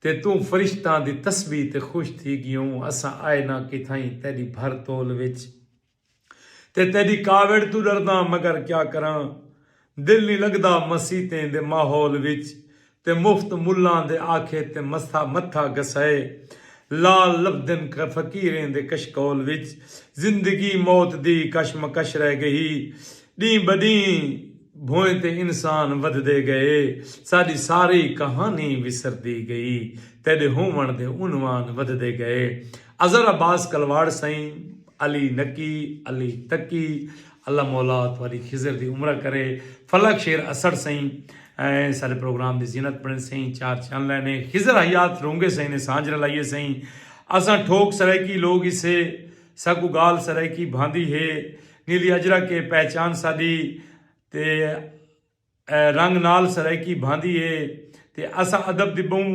تے توں فرشتاں دی تسبیح تے خوش تھی گیوں۔ اساں آئے ناں کتھائیں تیڈی بھر تول وچ۔ تے تیݙی کاوڑ توں ݙرداں مگر کیا کراں دل نی لڳدا مسیتیں دے ماحول وچ تے مفت ملاں دے آکھے تے متھا گھسائے لال لبھدن فقیریں دے کشکول وچ زندگی موت دی کش مکش رہ ڳئی ݙینہہ بݙینہہ بھوئیں تے انسان ودھدے ڳئے ساݙی ساری کہانی وسردی ڳئی تیݙے ہووݨ دے عنوان ودھدے ڳئے اظہر عباس کلواڑ سئیں علی نکی علی تکی اللہ مولا تہاڈی خضر دی عمرہ کرے فلک شیر اسڑ سئیں سارے پروگرام دی زینت بنڑن سئیں چار چن لینے خضر حیات رونگے سئیں نے سانجھ رلائیے سئیں اساں ٹھوک سرائیکی لوگ اسے ساکوں گال سرائیکی بھاندی ہے نیلی اجرا کے پہچان ساڈی تے رنگ نال سرائیکی بھاندی ہے تے اساں ادب دی بہوں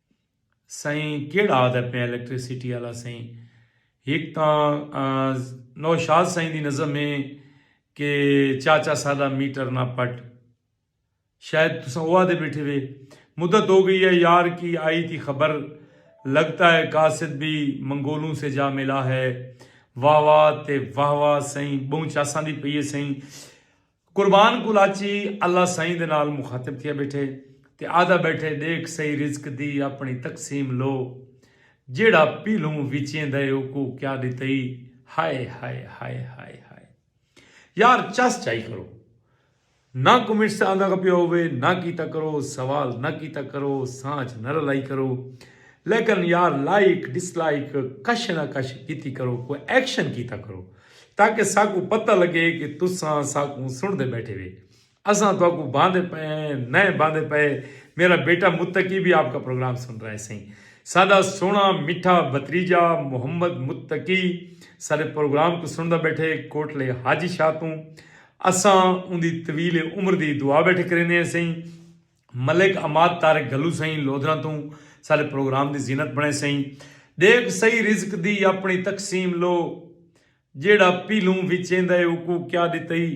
سئیں کیڑا آہدا پئیں الیکٹریسٹی آلا سئیں ہک تاں نوشاد سئیں دی نظم اے کہ چاچا ساڈا میٹر نہ پٹ شاید تساں او آہدے بیٹھے وے مدت ہو گئی ہے یار کی آئی تھی خبر لگتا ہے قاصد بھی منگولوں سے جا ملا ہے واہ واہ تے واہ واہ سئیں بہوں چاساندی پئی اے سئیں قربان کلاچی اللہ سائیں دے نال مخاطب تھیا بیٹھے تے آہدا بیٹھے ڈیکھ سئی رزق دی اپنڑی تقسیم لو جیہڑا پیلھوں وچیندا ہے اوکوں کیا ڈتئی ہائے ہائے ہائے ہائے ہائے یار چس چائی کرو نہ کمنٹس تے آندا کپیا ہووے نہ کیتا کرو سوال نہ کیتا کرو سانچ نہ رلائی کرو لیکن یار لائک ڈس لائک کش نہ کش کیتی کرو کوئی ایکشن کیتا کرو تاکہ ساکوں پتہ لگے کہ تساں ساکوں سنڑدے بیٹھے وے۔ اساں تہاکوں باندے پئے ہیں نئیں باندے پئے۔ میرا بیٹا متقی وی آپ کا پروگرام سن رہا ہے سئیں۔ ساڈا سوہنڑا مٹھا بھتریجا محمد متقی ساڈے پروگرام کوں سنڑدا بیٹھے کوٹلے حاجی شاہ توں۔ اساں اوندی طویل عمر دی دعا بیٹھے کریندے ہیں سئیں۔ ملک عماد طارق گھلو سئیں لودھراں توں ساڈے پروگرام دی زینت بنڑے سئیں ڈیکھ سہی رزق دی اپنڑی تقسیم لو جیڑھا پیلھوں وچیندا اے اوکوں کیا ڈتئی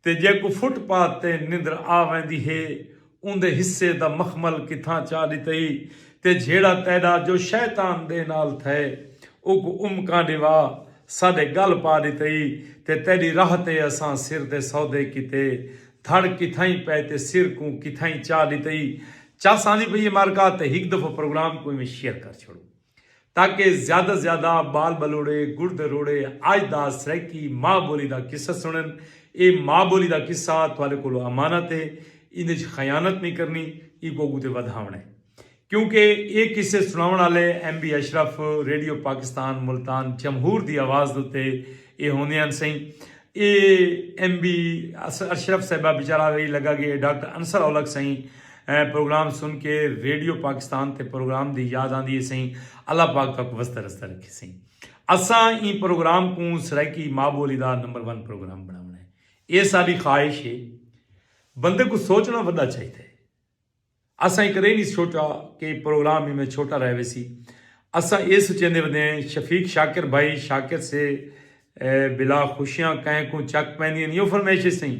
تے جیکوں فٹ پاتھ تے نندر آ ویندی ہے اوندے حصے دا مخمل کتھاں چا ڈتئی تے جھیڑا تیڈا جو شیطان دے نال تھئے اوکوں امکاں ڈیوا ساڈے گل پا ڈتئی تے تیڈی راہ تے اساں سر دے سودے کیتے دھڑ کتھائیں پئے تے سر کوں کتھائیں چا ڈتئی چس آندی پئی اے مارکا تے ہک دفعہ پروگرام کوں ایویں شیئر کر چھوڑو تاکہ زیادہ زیادہ بال بلوڑے گڑ دے روڑے اج دا سرائیکی ماء بولی دا قصہ سنن اے ماء بولی دا قصہ تھوالے کولو امانت اے ایندے اچ خیانت نی کرنی ایکو اگو تے ودھاونڑ اے کیونکہ اے قصے سناون آلے M B Ashraf radio Pakistan Multan جمہور دی آواز دے اتے اے ہوندے ہن سئیں اے ایم بی اشرف صاحبہ بیچارہ وی لگا گے اے ڈاکٹر انصر اولکھ سئیں پروگرام سن کے ریڈیو پاکستان تے پروگرام دی یاد آندی اے سئیں اللہ پاک تہاکوں وسدا رسدا رکھے سئیں اساں ایں پروگرام کوں سرائیکی ماء بولی دا نمبر ون پروگرام بناونا اے اے ساڈی خواہش اے بندے کوں سوچنا ودا چاہیدا اے۔ اساں کدے نی سوچا کہ اے پروگرام ایویں چھوٹا رہ ویسی۔ اساں اے سچیندے ودیں شفیق شاکر بھائی شاکر سے بلا خوشیاں کہیں کوں چک پیندین یو فرمیشے سئیں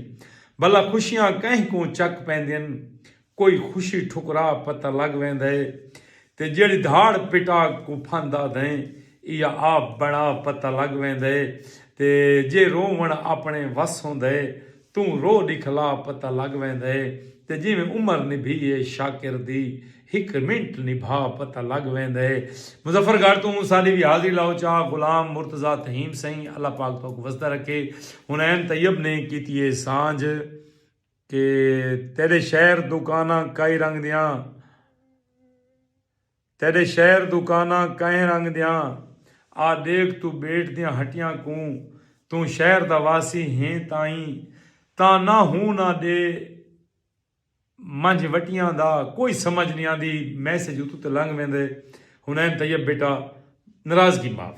بلا خوشیاں کہیں کوں چک پیندین کوئی خوشی ٹھکرا پتہ لگ ویندے تے جیڑھی دھاڑ پٹا کوں پھند آدھیں ایا آپ بنا پتہ لگ ویندے تے جے رونوݨ اپنے وس ہوندے توں رو ݙکھلا پتہ لڳ ویندے تے جیویں عمر نبھی اے شاکر دی ہک منٹ نبھا پتہ لڳ ویندے مظفر گڑھ توں ساݙی وی حاضری لاؤ چا غلام مرتضی تھیم سئیں اللہ پاک تہاکوں وسدا رکھے حنین طیب نے کیتی اے سانجھ کہ تیݙے شہر دوکاناں کائی رنگ دیاں تیݙے شہر دکاناں کئیں رنگ دیاں آ ݙیکھ توں ٻیٹ دیاں ہٹیاں کوں توں شہر دا واسی ہیں تائیں تاں نہ ہوں نہ ݙے منجھ وٹیاں دا کوئی سمجھ نی آندی میسج اتوں تے لنگھ ویندے حنین طیب بیٹا ناراضگی معاف۔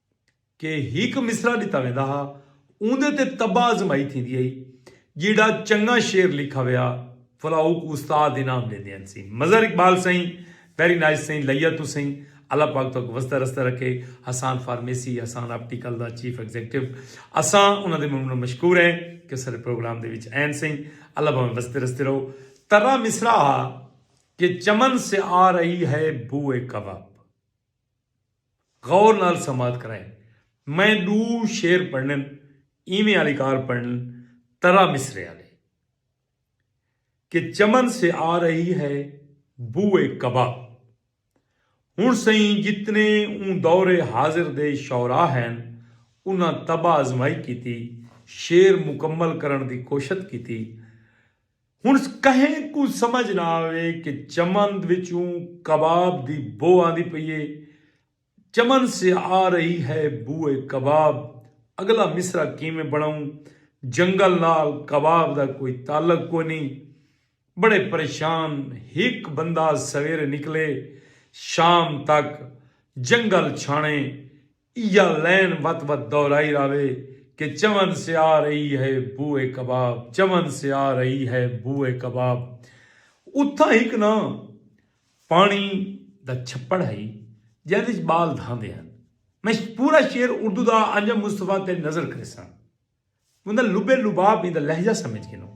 کہ ہک مصرعہ ݙتا ویندا ہا اوندے تے طبع آزمائی تھیندی ہئی جیہڑا چنگاں شعر لکھا ویا فلا اوکوں استاد انعام ݙیندے ہن سئیں مظہر اقبال سئیں ویری نائس سئیں لیا توں سئیں اللہ پاک تہاکوں وسدا رسدا رکھے حسان فارمیسی حسان آپٹیکل دا چیف ایگزیکٹو اساں انہاں دے ممنون مشکور ہیں کہ او ساڈے پروگرام دے وچ این سئیں اللہ بھاویں وسدے رسدے رہو ترا مصرعہ ہا کہ چمن سے آ رہی ہے بوئے کباب۔ غور نال سماعت کرائیں۔ میں ڈو شعر پڑھنن ایویں آلی کار پڑھنن ترا مصرعے آلے۔ کہ چمن سے آ رہی ہے بو اے کباب۔ ہن سئیں جتنے اوں دور حاضر دے شعراء ہین انہاں طبع آزمائی کیتی شعر مکمل کرن دی کوشت کیتی۔ ہݨ کہیں کوں سمجھ نہ آوے کہ چمن وچوں کباب دی بو آندی پئی اے، چمن سے آ رہی ہے بوئے کباب، اڳلا مصرع کیویں بݨاؤں، جنگل نال کباب دا کوئی تعلق کونھی۔ بڑے پریشان ہک بندہ سویرے نکلے، شام تک جنگل چھاݨے، ایا لین وت وت دورائی راوے کہ چون سیا رئی ہے بو اے کباب چون سیا رئی ہے بو اے کباب اتھاں ہک نا پانی دا چھپڑ ہئی جیندے اچ بال دھاندے ہن میں پورا شعر اردو دا آنجا مصطفی تے نظر کریساں بندہ لبے لباب ایندا لہجہ سمجھ گھنوں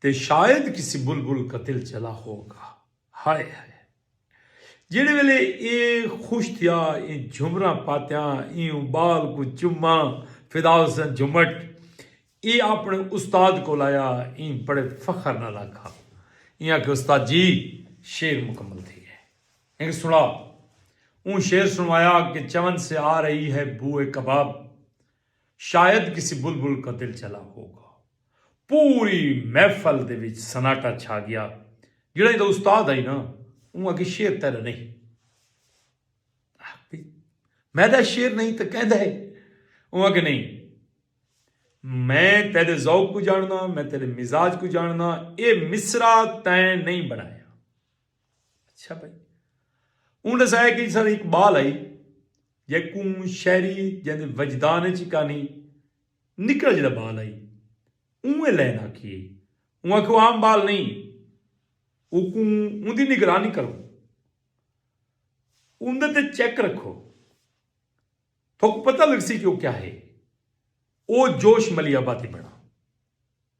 تے شاید کسی بلبل قتل چلا ہوگا۔ ہائے ہائے۔ جیڑھے ویلے اے خوش تھیا ایں جھمراں پاتیاں ایوں بال کوں چماں فدا حسن جھمٹ اے اپنے استاد کول آیا ایں بڑے فخر نال آکھا ایں آکھے استاد جی شعر مکمل تھی گئے ہنگ سنڑا اوں شعر سنوایا کہ چمن سے آ رہی ہے بوئے کباب۔ شاید کسی بلبل کا دل چلا ہوگا۔ پوری محفل دے وچ سناٹا چھا گیا۔ جیڑھا ایندا استاد ہئی نا اوں آکھیا شعر تیڈا نہیں۔ آکھدے میڈا شعر نہیں تاں کیندے ہے؟ اوں آکھیا نہیں میں تیڈے ذوق کوں جانڑداں میں تیڈے مزاج کوں جانڑداں اے مصرع تیں نہیں بنڑایا۔ اچھا بھائی اون ڈسایا کہ سر اقبال آئی جے کون شہری جن دے وجدان چی کانی نکل جڑا بال آئی اون لین آکھی ہے اون آکھو عام بال نہیں او کون اون دی نگرانی کرو اون دے تے چیک رکھو تو پتہ لگ سی کہ وہ کیا ہے او جوش ملی آباتی بڑا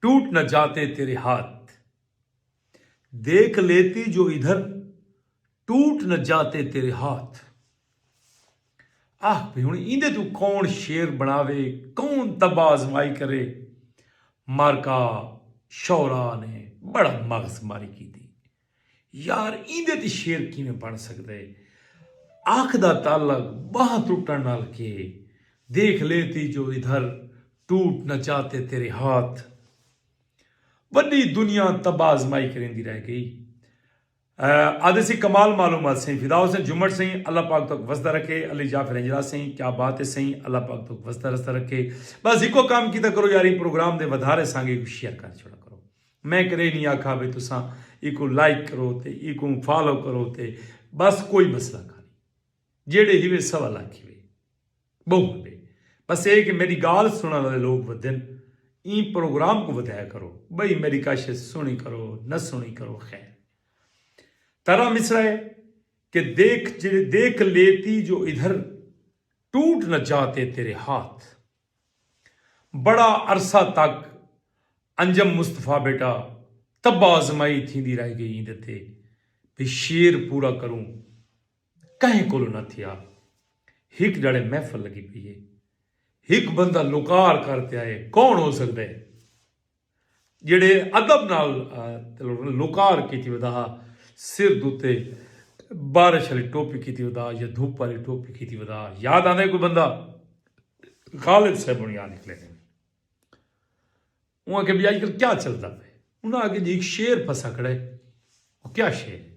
ٹوٹ نہ جاتے تیرے ہاتھ۔ دیکھ لیتی جو ادھر ٹوٹ نہ جاتے تیرے ہاتھ۔ آہ بھئی ہن ایندے توں کون شعر بنڑاوے کون طبع آزمائی کرے مارکا شعراء نے بڑا مغز ماری کیتی۔ یار ایندے تے شعر کیویں بݨ سڳدے۔ اکھ دا تعلق ٻانہہ ٹٹݨ نال کے۔ دیکھ لیتی جو ادھر ٹوٹ نہ چاتے تیرے ہاتھ۔ وݙی دنیا طبع آزمائی کریندی رہ ڳئی۔ آہدے سئیں کمال معلومات سئیں فدا حسین جھمٹ سئیں اللہ پاک توک وسدا رکھے علی جعفر ہنجرا سئیں کیا بات ہے سئیں اللہ پاک توک وسدا رسدا رکھے بس ہکو کم کیتا کرو یار ایں پروگرام دے ودھارے سانگے کوں شیئر کر چھوڑا کرو۔ میں کدے نی آکھا بھئی تساں ایکوں لائک کرو تے ایکوں فالو کرو تے بس کوئی مسئلہ کانی جیڑھے ہیوے سوا لکھ ہیوے بہوں ہندے بس اے کہ میڈی گال سنڑن آلے لوگ ودھن ایں پروگرام کوں ودھایا کرو بئی میڈی کاشت سنڑی کرو نہ سنڑی کرو خیر ترا مصرع اے کہ دیکھ جیڑھے دیکھ لیتی جو ادھر ٹوٹ نہ جاتے تیرے ہاتھ۔ بڑا عرصہ تک انجم مصطفی بیٹا طبع آزمائی تھیندی رہ گئی ایندے تے بی شعر پورا کروں کہیں کولوں نہ تھیا ہک جاڑے محفل لگی پئی ہے ہک بندہ لکار کر تے آئے کون ہو سکدے۔ جیڑھے ادب نال لوکار کیتی ودا ہا سر دوتے بارش آلی ٹوپی کیتی ودا یا دھوپ آلی ٹوپی کیتی ودا ہا یاد آندے کوئی بندہ غالب صاحب ہونی آ نکلے نے انہاں آکھیا بھئی اج کل کیا چلدا پئے انہاں آکھیا جی ایک شعر پھسا کھڑا ہے او کیا شعر ہے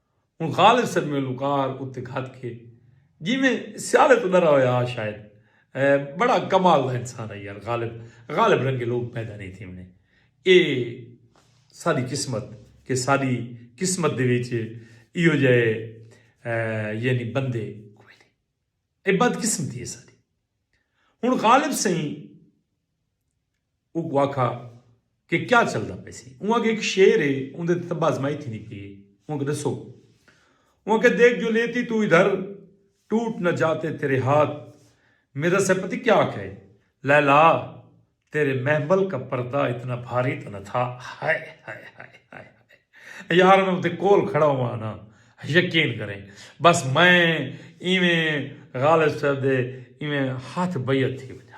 ہن خالد سرمے لوکار اتے گھت کے جیویں سیالے توں ڈرا ہویا ہا شاید بڑا کمال دا انسان ہا یار غالب غالب رنگے لوک پیدا نہیں تھیونے اے ساڈی قسمت کہ ساڈی قسمت دے وچ ایہو جئے یعنی بندے کوئی نہیں اے بدقسمتی ہے ساڈی ہن غالب سئیں اوکوں آکھا کہ کیا چلدا پئے سی۔ اوں آکھیا ہک شیر ہے اوندے تے طبع آزمائی تھیندی پئی ہے۔ اوں آکھیا ڈسو۔ اوں آکھیا دیکھ جو لیتی تو ادھر ٹوٹ نہ جاتے تیرے ہاتھ۔ مرزا صاحب پتہ کیا آکھیا ہے۔ لیلا تیرے محمل کا پردہ اتنا بھاری تو نہ تھا۔ ہائے ہائے ہائے ہائے ہائے۔ یار میں اوندے کول کھڑا ہوواں نا یقین کریں بس میں ایویں غالب صاحب دے ایویں ہتھ بیعت تھی ونجاں۔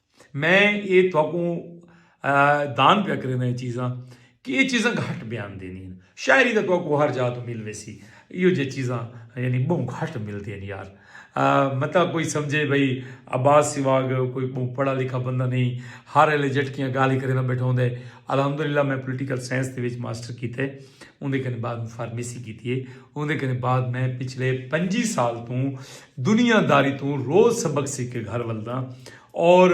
میں یہ تھوکوں دان پیا کریں یہ چیزاں کہ یہ چیزاں گھٹ بیان دینی ہیں شاعری دا تھوکوں ہر جا تو مل ویسی یہ جو چیزاں یعنی بہوں گھٹ مل دینی یار مطلب کوئی سمجھے بھئی عباس سواگ کوئی بہوں پڑھا لکھا بندہ نہیں ہر ایلے جٹکیاں گالی کریں بیٹھا ہوں دے الحمدللہ میں پولیٹیکل سائنس دے وچ ماسٹر کیتے اندے کنے بعد فارمیسی کیتی ہے اندے کنے بعد میں پچھلے پنجی سال توں دنیا داری توں روز سبق سکھ کے گھر ولداں اور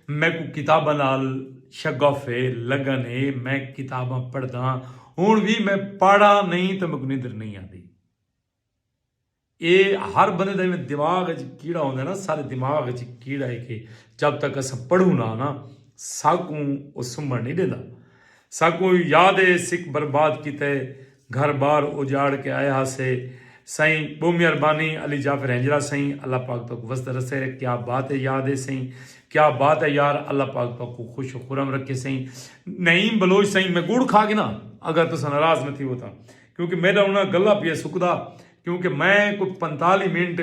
میکوں کتاباں نال شغف ہے لگن ہے میں کتاباں پڑھداں ہن وی میں پڑھا نہیں تاں میکوں نندر نہیں آندی اے ہر بندے دا ایویں دماغ اچ کیڑا ہوندا ہے نا سارے دماغ اچ کیڑا ہے کہ جب تک اساں پڑھوں نا نا ساکوں او سمبھن نہیں ڈیندا۔ ساکوں یاد ہے سکھ برباد کیتے گھر بار اجاڑ کے آئے ہاسے سائیں بہوں مہربانی علی جعفر ہنجرا سائیں اللہ پاک تہاکوں وسدا رسے کیا بات ہے یاد ہے سائیں کیا بات ہے یار اللہ پاک تہاکوں خوش و خرم رکھے سائیں نعیم بلوچ سائیں میں گڑ کھا گنا اگر تساں ناراض نہ تھیو تاں کیونکہ میڈا انہاں گلا پیا سکدا کیونکہ میں کوئی پنتالی منٹ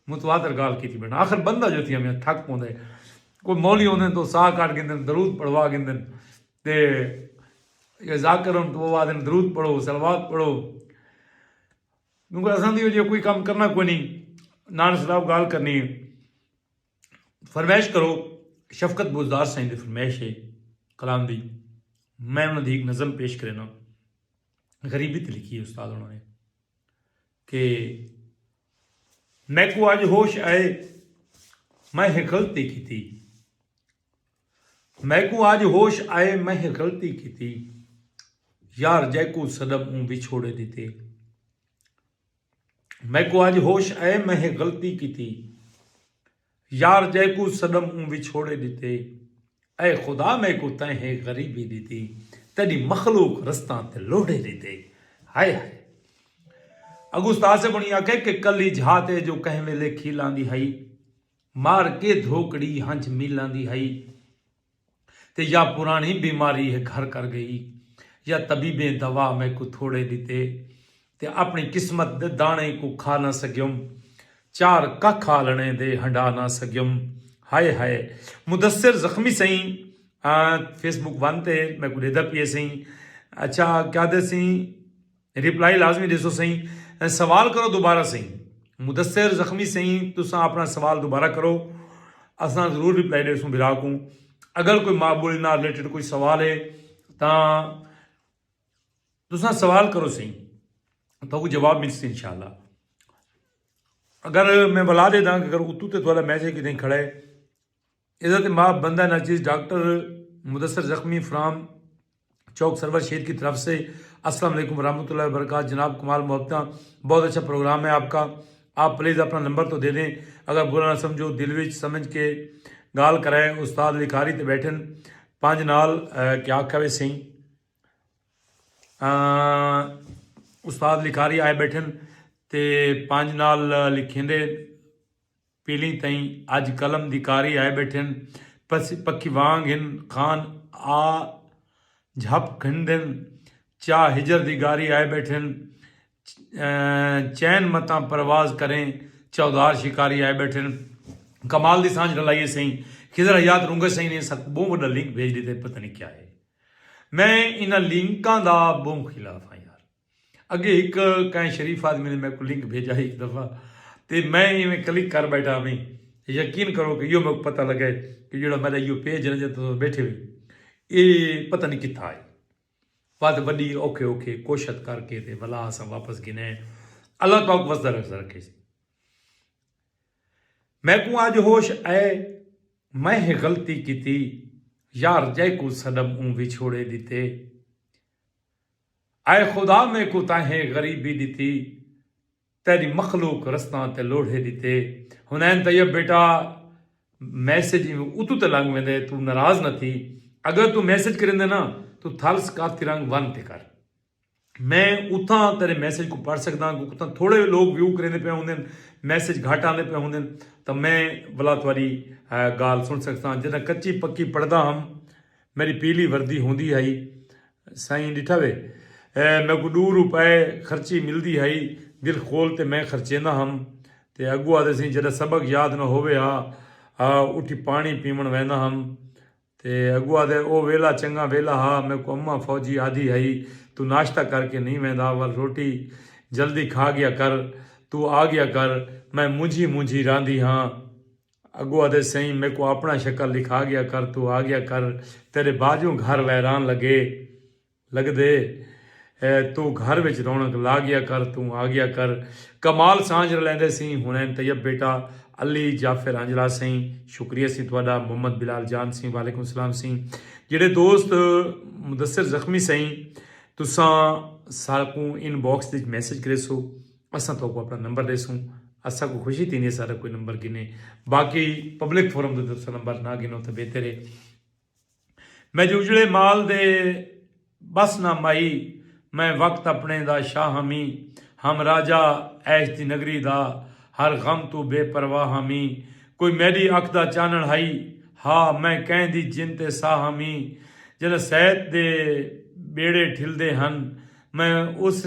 متواتر گالھ کیتی بھیٹاں آخر بندہ جو تھیا میاں تھک پوندے کوئی مولوی ہوندے تو ساہ کاٹ گھندن درود پڑھوا گھندن تے یا ذاکر ہن تو وہ آدھن درود پڑھو صلوات پڑھو کیونکہ اساں دی وجہ کوئی کام کرنا کوئی نہیں نان صلاح گال کرنی ہے فرمائش کرو شفقت بوزدار سائیں دی فرمائش ہے کلام دی میں انہوں دی ایک نظم پیش کرنا غریبی تے لکھی ہے استاد انہوں نے کہ میکوں اج ہوش آئے میں ہے غلطی کیتی میکوں اج ہوش آئے میں ہے غلطی کیتی یار جیکوں سدم اوں وچھوڑے دیتے میکوں اج ہوش آئے میں ہے غلطی کیتی یار جیکوں سݙم اوں وچھوڑے ݙتے اے خدا میکوں تیں ہے غریبی ݙتی تیݙی مخلوق رستاں تے لوڑھے ݙتے ہائے ہائے اڳوں استاد صاحب ہوݨی آکھے کہ کلی جھات اے جو کہیں ویلے کھیلاندی ہئی مار کے دھوکڑی ہنجھ میلاندی ہئی تے یا پرانڑی بیماری ہے گھر کر گئی یا طبیبیں دوا میکوں تھوڑے ڈتے تے اپنڑی قسمت دے دانڑیں کوں کھا نہ سگیوم چار ککھ آلنڑیں دے ہنڈا نہ سگیوم ہائے ہائے مدثر زخمی سئیں فیس بک ون تے میکوں ڈیدا پیئے سئیں اچھا کیا دے سئیں ریپلائی لازمی ڈیسو سئیں سوال کرو دوبارہ سئیں مدثر زخمی سئیں تساں اپنا سوال دوبارہ کرو اساں ضرور ریپلائی ڈیسوں بھرا کوں اگر کوئی ماں بولی نال ریلیٹڈ کوئی سوال ہے تاں تساں سوال کرو سئیں تو کو جواب مل سی انشاءاللہ اگر میں بلا دے داں اگر اتو تے تھوڑا میسج کی دیں کھڑا ہے ایذا تے ماہ بندہ ناچیز ڈاکٹر مدثر زخمی فرام چوک سرور شیر کی طرف سے السلام علیکم ورحمۃ اللہ وبرکاتہ جناب کمال محبتاں بہت اچھا پروگرام ہے آپ کا آپ پلیز اپنا نمبر تو دے دیں اگر برا نہ سمجھو دل وچ سمجھ کے گال کرائے استاد لکھاری تے بیٹھن پانچ نال کیا آکھا وے سیں استاد لکھاری آئے بیٹھن تے پانچ نال لکھیں دے پیلیں تئیں اج قلم دی کاری آئے ٻیٹھن پکھی وانگ ہن خان آ جھپ گھندن چاہ ہجر دی گاری آئے ٻیٹھن چین متاں پرواز کریں چودھار شکاری آئے ٻیٹھن کمال دی سانجھ رلائیے سئیں خضر حیات رونگے سئیں نے ساکوں بہوں وڈا لنک بھیج ڈیتا ہے پتہ نی کیا ہے میں انہاں لنکاں دا بہوں خلاف ہاں یار۔ اگے ہک کہیں شریف آدمی نے میکوں لنک بھیجا ہک دفعہ تے میں ایویں کلک کر بیٹھا ہویں یقین کرو کہ یو میکوں پتہ لگا ہے کہ جڑا میرا یو پیج ہے جتے تساں بیٹھے ہوئے اے پتہ نہیں کتھا ہے بعد وڈی اوکھے اوکھے کوشت کر کے تے ولا اساں واپس گنے اللہ پاک وسدا رکھ رکھے میکوں اج ہوش اے میں غلطی کیتی یار جے کو صدم اون وچھوڑے دیتے اے خدا میکوں تاں ہے غریبی ݙتی تیݙی مخلوق رستاں تے لوڑھے ݙتے حنین طیب بیٹا میسج ایویں اتوں تے لنگ ویندے توں ناراض نہ تھی اگر توں میسج کریندے نا توں تھل ثقافتی رنگ ون تے کر میں اتھاں تیݙے میسج کوں پڑھ سڳداں کیونکہ اتھاں تھوڑے لوک ویو کریندے پئے ہوندن میسج گھٹ آندے پئے ہوندن تاں میں ولا تہاݙی ڳالھ سݨ سڳساں جݙاں کچی پکی پڑھدا ہم میݙی پیلی وردی ہوندی ہئی۔ سائیں ݙٹھا وے۔ میکوں ݙو روپے خرچی ملدی ہئی۔ دل کھول تے میں خرچیندا ہم۔ تے اڳوں آہدے سئیں جݙاں سبق یاد نہ ہووے ہا اٹھی پاݨی پیوݨ ویندا ہم۔ تے اڳوں آہدے او ویلا چنڳاں ویلا ہا۔ میکوں اماں فوجی آہدی ہئی توں ناشتہ کر کے نئیں ویندا ول روٹی جلدی کھا ڳیا کر توں آ ڳیا کر میں مونجھی مونجھی راہندی ہاں۔ اگو آدھے سئیں میکوں آپنڑاں شکل دکھا گیا کر توں آ گیا کر تیڈے باجوں گھر ویران لگے لگدے اے توں گھر وچ رونق لا گیا کر توں آ گیا کر کمال سانجھ رلیندے سئیں حنین طیب بیٹا علی جعفر آنجلا سئیں شکریہ سئیں تہاڈا محمد بلال جان سئیں وعلیکم السلام سئیں جیڑھے دوست مدثر زخمی سئیں تساں ساکوں ان باکس وچ میسج کریسو۔ اساں تہاکوں اپنا نمبر ڈیسوں۔ اساکوں خوشی تھیندی ہے ساڈا کوئی نمبر گھنے۔ باقی پبلک فورم تے تساں نمبر نہ گھنو تاں بہتر ہے۔ میں جو اجڑے مال دے بس نہ مائی میں وقت اپنے دا شاہ ہاں می ہم راجہ عیش دی نگری دا ہر غم توں بے پرواہ ہاں می کوئی میڈی اکھ دا چانڑ ہئی ہا میں کہیں دی جن تے ساہ ہاں می جڈاں سیت دے بیڑے ٹھلدے ہن میں اس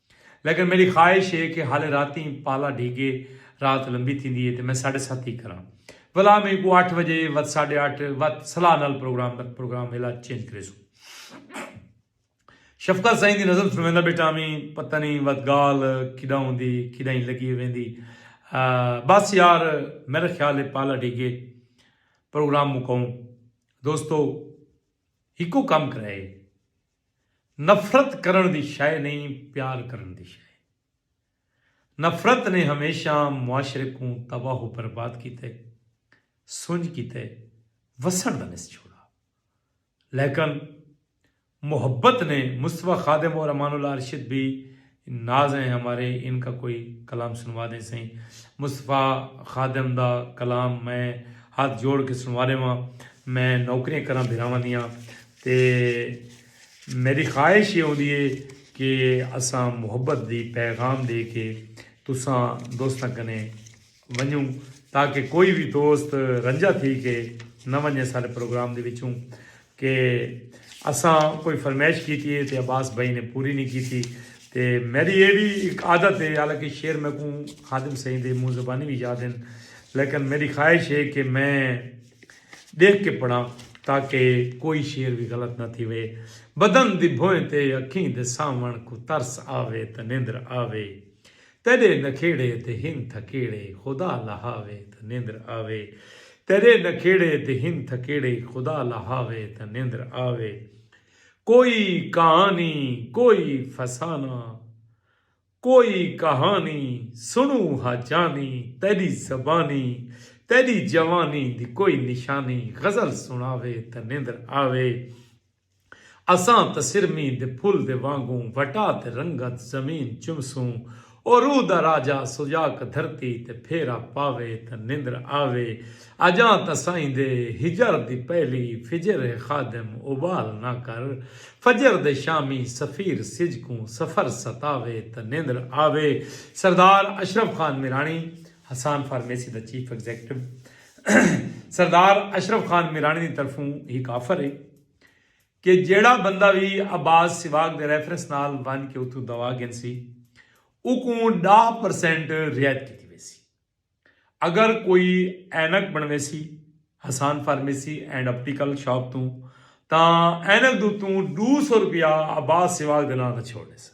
لیکن میݙی خواہش ہے کہ ہالے راتیں پالا ڈھیگے رات لمبی تھیندی ہے تے میں ساڈھے ست ای کراں ولا میکوں اٹھ وجے وت ساڈھے اٹھ وت صلاح نال پروگرام دا پروگرام ویلا چینج کریسوں شفقت سائیں دی نظم سنویندا بیٹھا میں پتہ نہیں وت گال کڈاں ہوندی کڈاں ہی لگی ویندی بس یار میرا خیال ہے پالا ڈھیگے پروگرام مکاؤں دوستو ہکو کم کرائے نفرت کرݨ دی شئے نئیں پیار کرݨ دی شئے ہے۔ نفرت نے ہمیشہ معاشرے کوں تباہ و برباد کیتے سنڄ کیتے وسݨ دا نس چھوڑا لیکن محبت نے مصطفی خادم اور امان اللہ ارشد بھی ناز ہیں ہمارے ان کا کوئی کلام سنوا دیں سئیں مصطفی خادم دا کلام میں ہاتھ جوڑ کے سنوا ڈیواں میں نوکریاں کراں بھراواں دیاں تے میڈی خواہش یہ ہوندی ہے کہ اساں محبت دی پیغام دے کے تساں دوستاں کنے ونجوں تاکہ کوئی وی دوست رنجہ تھی کے نہ ونجے سارے پروگرام دے وچوں کہ اساں کوئی فرمیش کیتی ہے تے عباس بھائی نے پوری نہیں کیتی تے میری اے وی ایک عادت ہے حالانکہ شعر میں کوں خادم سائیں دے منہ زبانی وی یاد ہیں لیکن میری خواہش ہے کہ میں دیکھ کے پڑھاں تاکہ کوئی شعر وی غلط نہ تھی وے بدن دی بھوئیں تے اکھیں دے ساون کوں ترس آوے تے نیندر آوے تیݙے نکھیڑے تے ہن تھکیڑے خدا لہاوے تاں نیندر آوے تیݙے نکھیڑے تے ہن تھکیڑے خدا لہاوے تاں نیندر آوے کوئی کہانی کوئی فسانہ کوئی کہانی سݨوں ہا جانی تیݙی زبانی تیݙی جوانی دی کوئی نشانی غزل سݨاوے تاں نیندر آوے۔ اساں تاں سرمیں دے پھل دے وانگوں وٹا تے رنگت زمین چمسوں او روح دا راجہ سجاک دھرتی تے پھیرا پاوے تاں نندر آوے اجاں تاں سائیں دے ہجر دی پہلی فجر ہے خادم ابال نہ کر فجر دے شامی سفیر سجھ کوں سفر ستاوے تاں نندر آوے سردار اشرف خان میرانی حسان فارمیسی دا چیف ایگزیکٹو سردار اشرف خان میرانی دی طرفوں ہک آفر ہے کہ جیڑا بندہ وی عباس سواگ دے ریفرنس نال ون کے اتھوں دوا گھنسی اوکوں ڈاہ پرسینٹ رعایت کیتی ویسی اگر کوئی اینک بنویسی Hassan pharmacy and optical shop توں تاں اینک دوتوں ڈو سو روپیہ عباس سواگ دے نال دا چھوڑ ڈیسا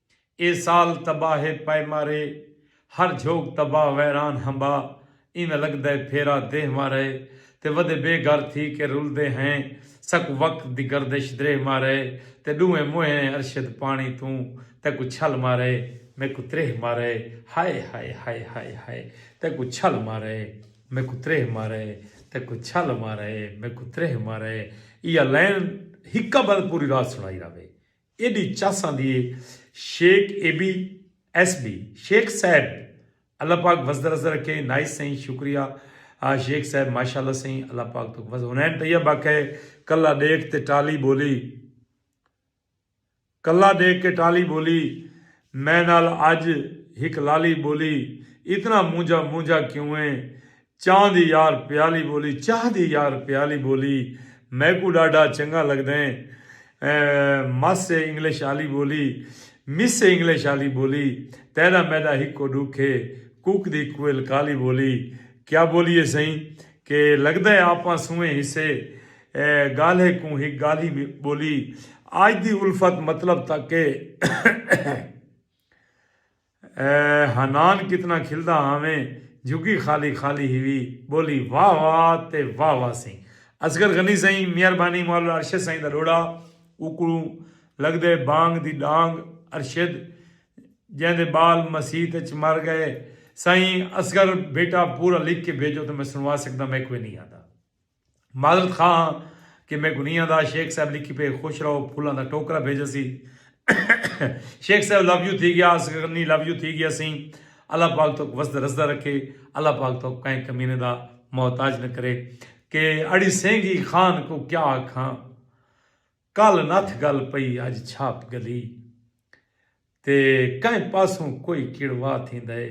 اے سال تباہ ہے پئے مارے ہر جھوک تباہ ویران ہمبا ایویں لگدے پھیرا دیہہ مارے تے ودے بے گھر تھی کے رلدے ہیں ساکوں وقت دی گردش دریہہ مارے تے ڈوہیں موہینے ارشد پانی توں تیکوں چھل مارے میکوں تریہہ مارے ہائے ہائے ہائے ہائے ہائے تیکوں چھل مارے میکوں تریہہ مارے تیکوں چھل مارے میکوں تریہہ مارے ایہا لائن ہکا بند پوری رات سنائی راہوے ایݙی چس آندی اے Sheikh A B S B Sheikh صاحب اللہ پاک وسدرس رکھے نائس سئیں شکریہ شیخ صاحب ماشاءاللہ سئیں اللہ پاک توک وس حنین طیب آکھے کلا ڈیکھ تے ٹالی بولی کلا ڈیکھ کے ٹالی بولی میں نال اج ہک لالی بولی اتنا مونجھا مونجھا کیوں اے چاہ دی یار پیالی بولی چاہ دی یار پیالی بولی میکوں ڈاڈھا چنگا لگدیں مس اے انگلش آلی بولی مس اے انگلش آلی بولی تیڈا میڈا ہکو ڈکھ اے کوک دی کوئل کالی بولی کیا بولی اے سئیں کہ لگدا اے آپاں سوئیں ہسے گالھے کوں ہک گالھی بولی آج دی الفت مطلب تک اے۔ اے حنان کتنا کھلدا ہاویں جھگی خالی خالی ہیوی بولی واہ واہ تے واہ واہ سی اصغر غنی سئیں میہربانی مولا ارشد سائیں دا ڈوڑا اوکوں لگدے بانگ دی ڈانگ ارشد جیندے بال مسیت اچ مر گئے سائیں اصغر بیٹا پورا لکھ کے بھیجو تے میں سنوا سکداں میکوں اینی آندا۔ معذرت خواہ ہاں کہ میں گنیاں دا شیخ صاحب لکھی پے خوش رہو پھولاں دا ٹوکرا بھیجا سی شیخ صاحب لو یو تھی گیا اس غنی لو یو تھی گیا سی اللہ پاک تو وسد رسدہ رکھے اللہ پاک تو کہیں کمینے دا محتاج نہ کرے کہ اڑی سینگی خان کو کیا آکھاں کل نتھ گل پئی اج چھاپ گلی۔ تے کہیں پاسوں کوئی کڑوا تھیندا ہے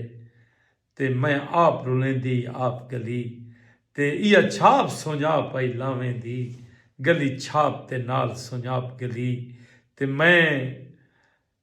تے میں آپ رلیندی آپ گلی۔ تے ایہا چھاپ سنڄاپ آئی لاویں دی گلی چھاپ تے نال سنڄاپ گلی۔ تے میں۔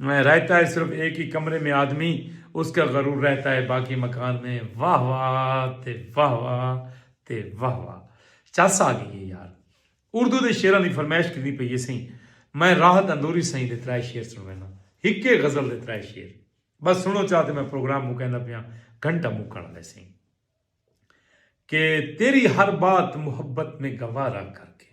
رہتا ہے صرف ایک ہی کمرے میں آدمی اس کا غرور رہتا ہے باقی مکان میں واہ واہ تے واہ واہ تے واہ واہ چس آ گئی ہے یار اردو دے شعراں دی فرمائش کیتی پئی ہے سائیں میں راحت اندوری سائیں دے ترائے شعر سنوینا ہکے غزل دے ترائے شعر بس سنو چاہ تے میں پروگرام مکیندا پیا گھنٹہ مکن والے سائیں کہ تیری ہر بات محبت میں گوارا کر کے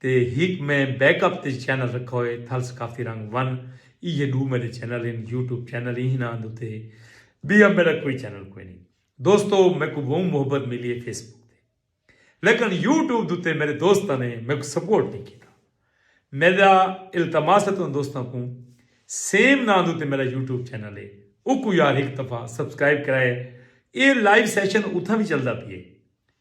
تے ہک میں بیک اپ تے چینل رکھا ہوئے تھلس کافی رنگ ون ایہے ڈو میڈے چینل ہن یوٹیوب چینل ہی ہناں دو تے بیا میڈا کوئی چینل کوئی نی دوستو میکوں بہوں محبت ملی ہے فیس بک تے لیکن یوٹیوب دو تے میڈے دوستاں نے میکوں سپورٹ نی کیتا میڈا التماس ہے توں دوستاں کوں سیم ناں دو تے میڈا یوٹیوب چینل ہے اوکوں یار ہک دفعہ سبسکرائب کرائے اے لائیو سیشن اتھاں وی چلدا پیے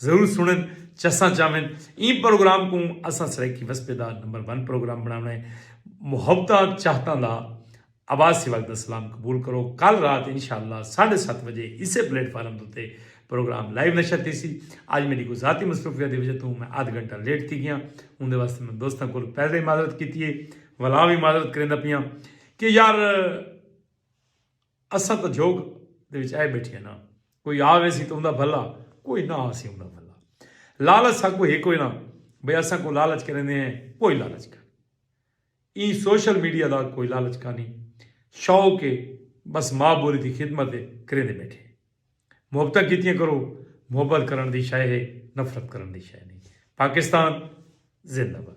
ضرور سنڑن چساں چاون ایں پروگرام کوں اساں سرائیکی وسپے دا نمبر ون پروگرام بناونا ہے محبتاں چاہتاں دا آواز سواگ دا سلام قبول کرو کل رات انشاءاللہ ساڈھے ست وجے اسے پلیٹ فارم دوتے پروگرام لائیو نشر تھیسی اج میڈی کو ذاتی مصروفیات دی وجہ توں میں آدھ گھنٹہ لیٹ تھی گیاں اون دے واسطے میں دوستاں کول پہلے معذرت کیتی ہے ولا وی معذرت کریندا پیاں کہ یار اساں تاں جھوڳ دے وچ آئے ٻیٹھیاں ناں، کوئی آ ویسی تاں اوندا بھلا، کوئی نہ آسی اوندا بھلا۔ لالچ ساکوں ہے کوئی نہ، بھئی اساں کوں لالچ کریندے ہیں، کوئی لالچ کائنی۔ ایں سوشل میڈیا دا کوئی لالچ کائنی، شوق ہے، بس ماء ٻولی دی خدمت ہے، کریندے ٻیٹھے ہیں۔ محبتاں کیتیاں کرو، محبت کرݨ دی شئے ہے، نفرت کرݨ دی شئے نئیں۔ پاکستان زندہ باد۔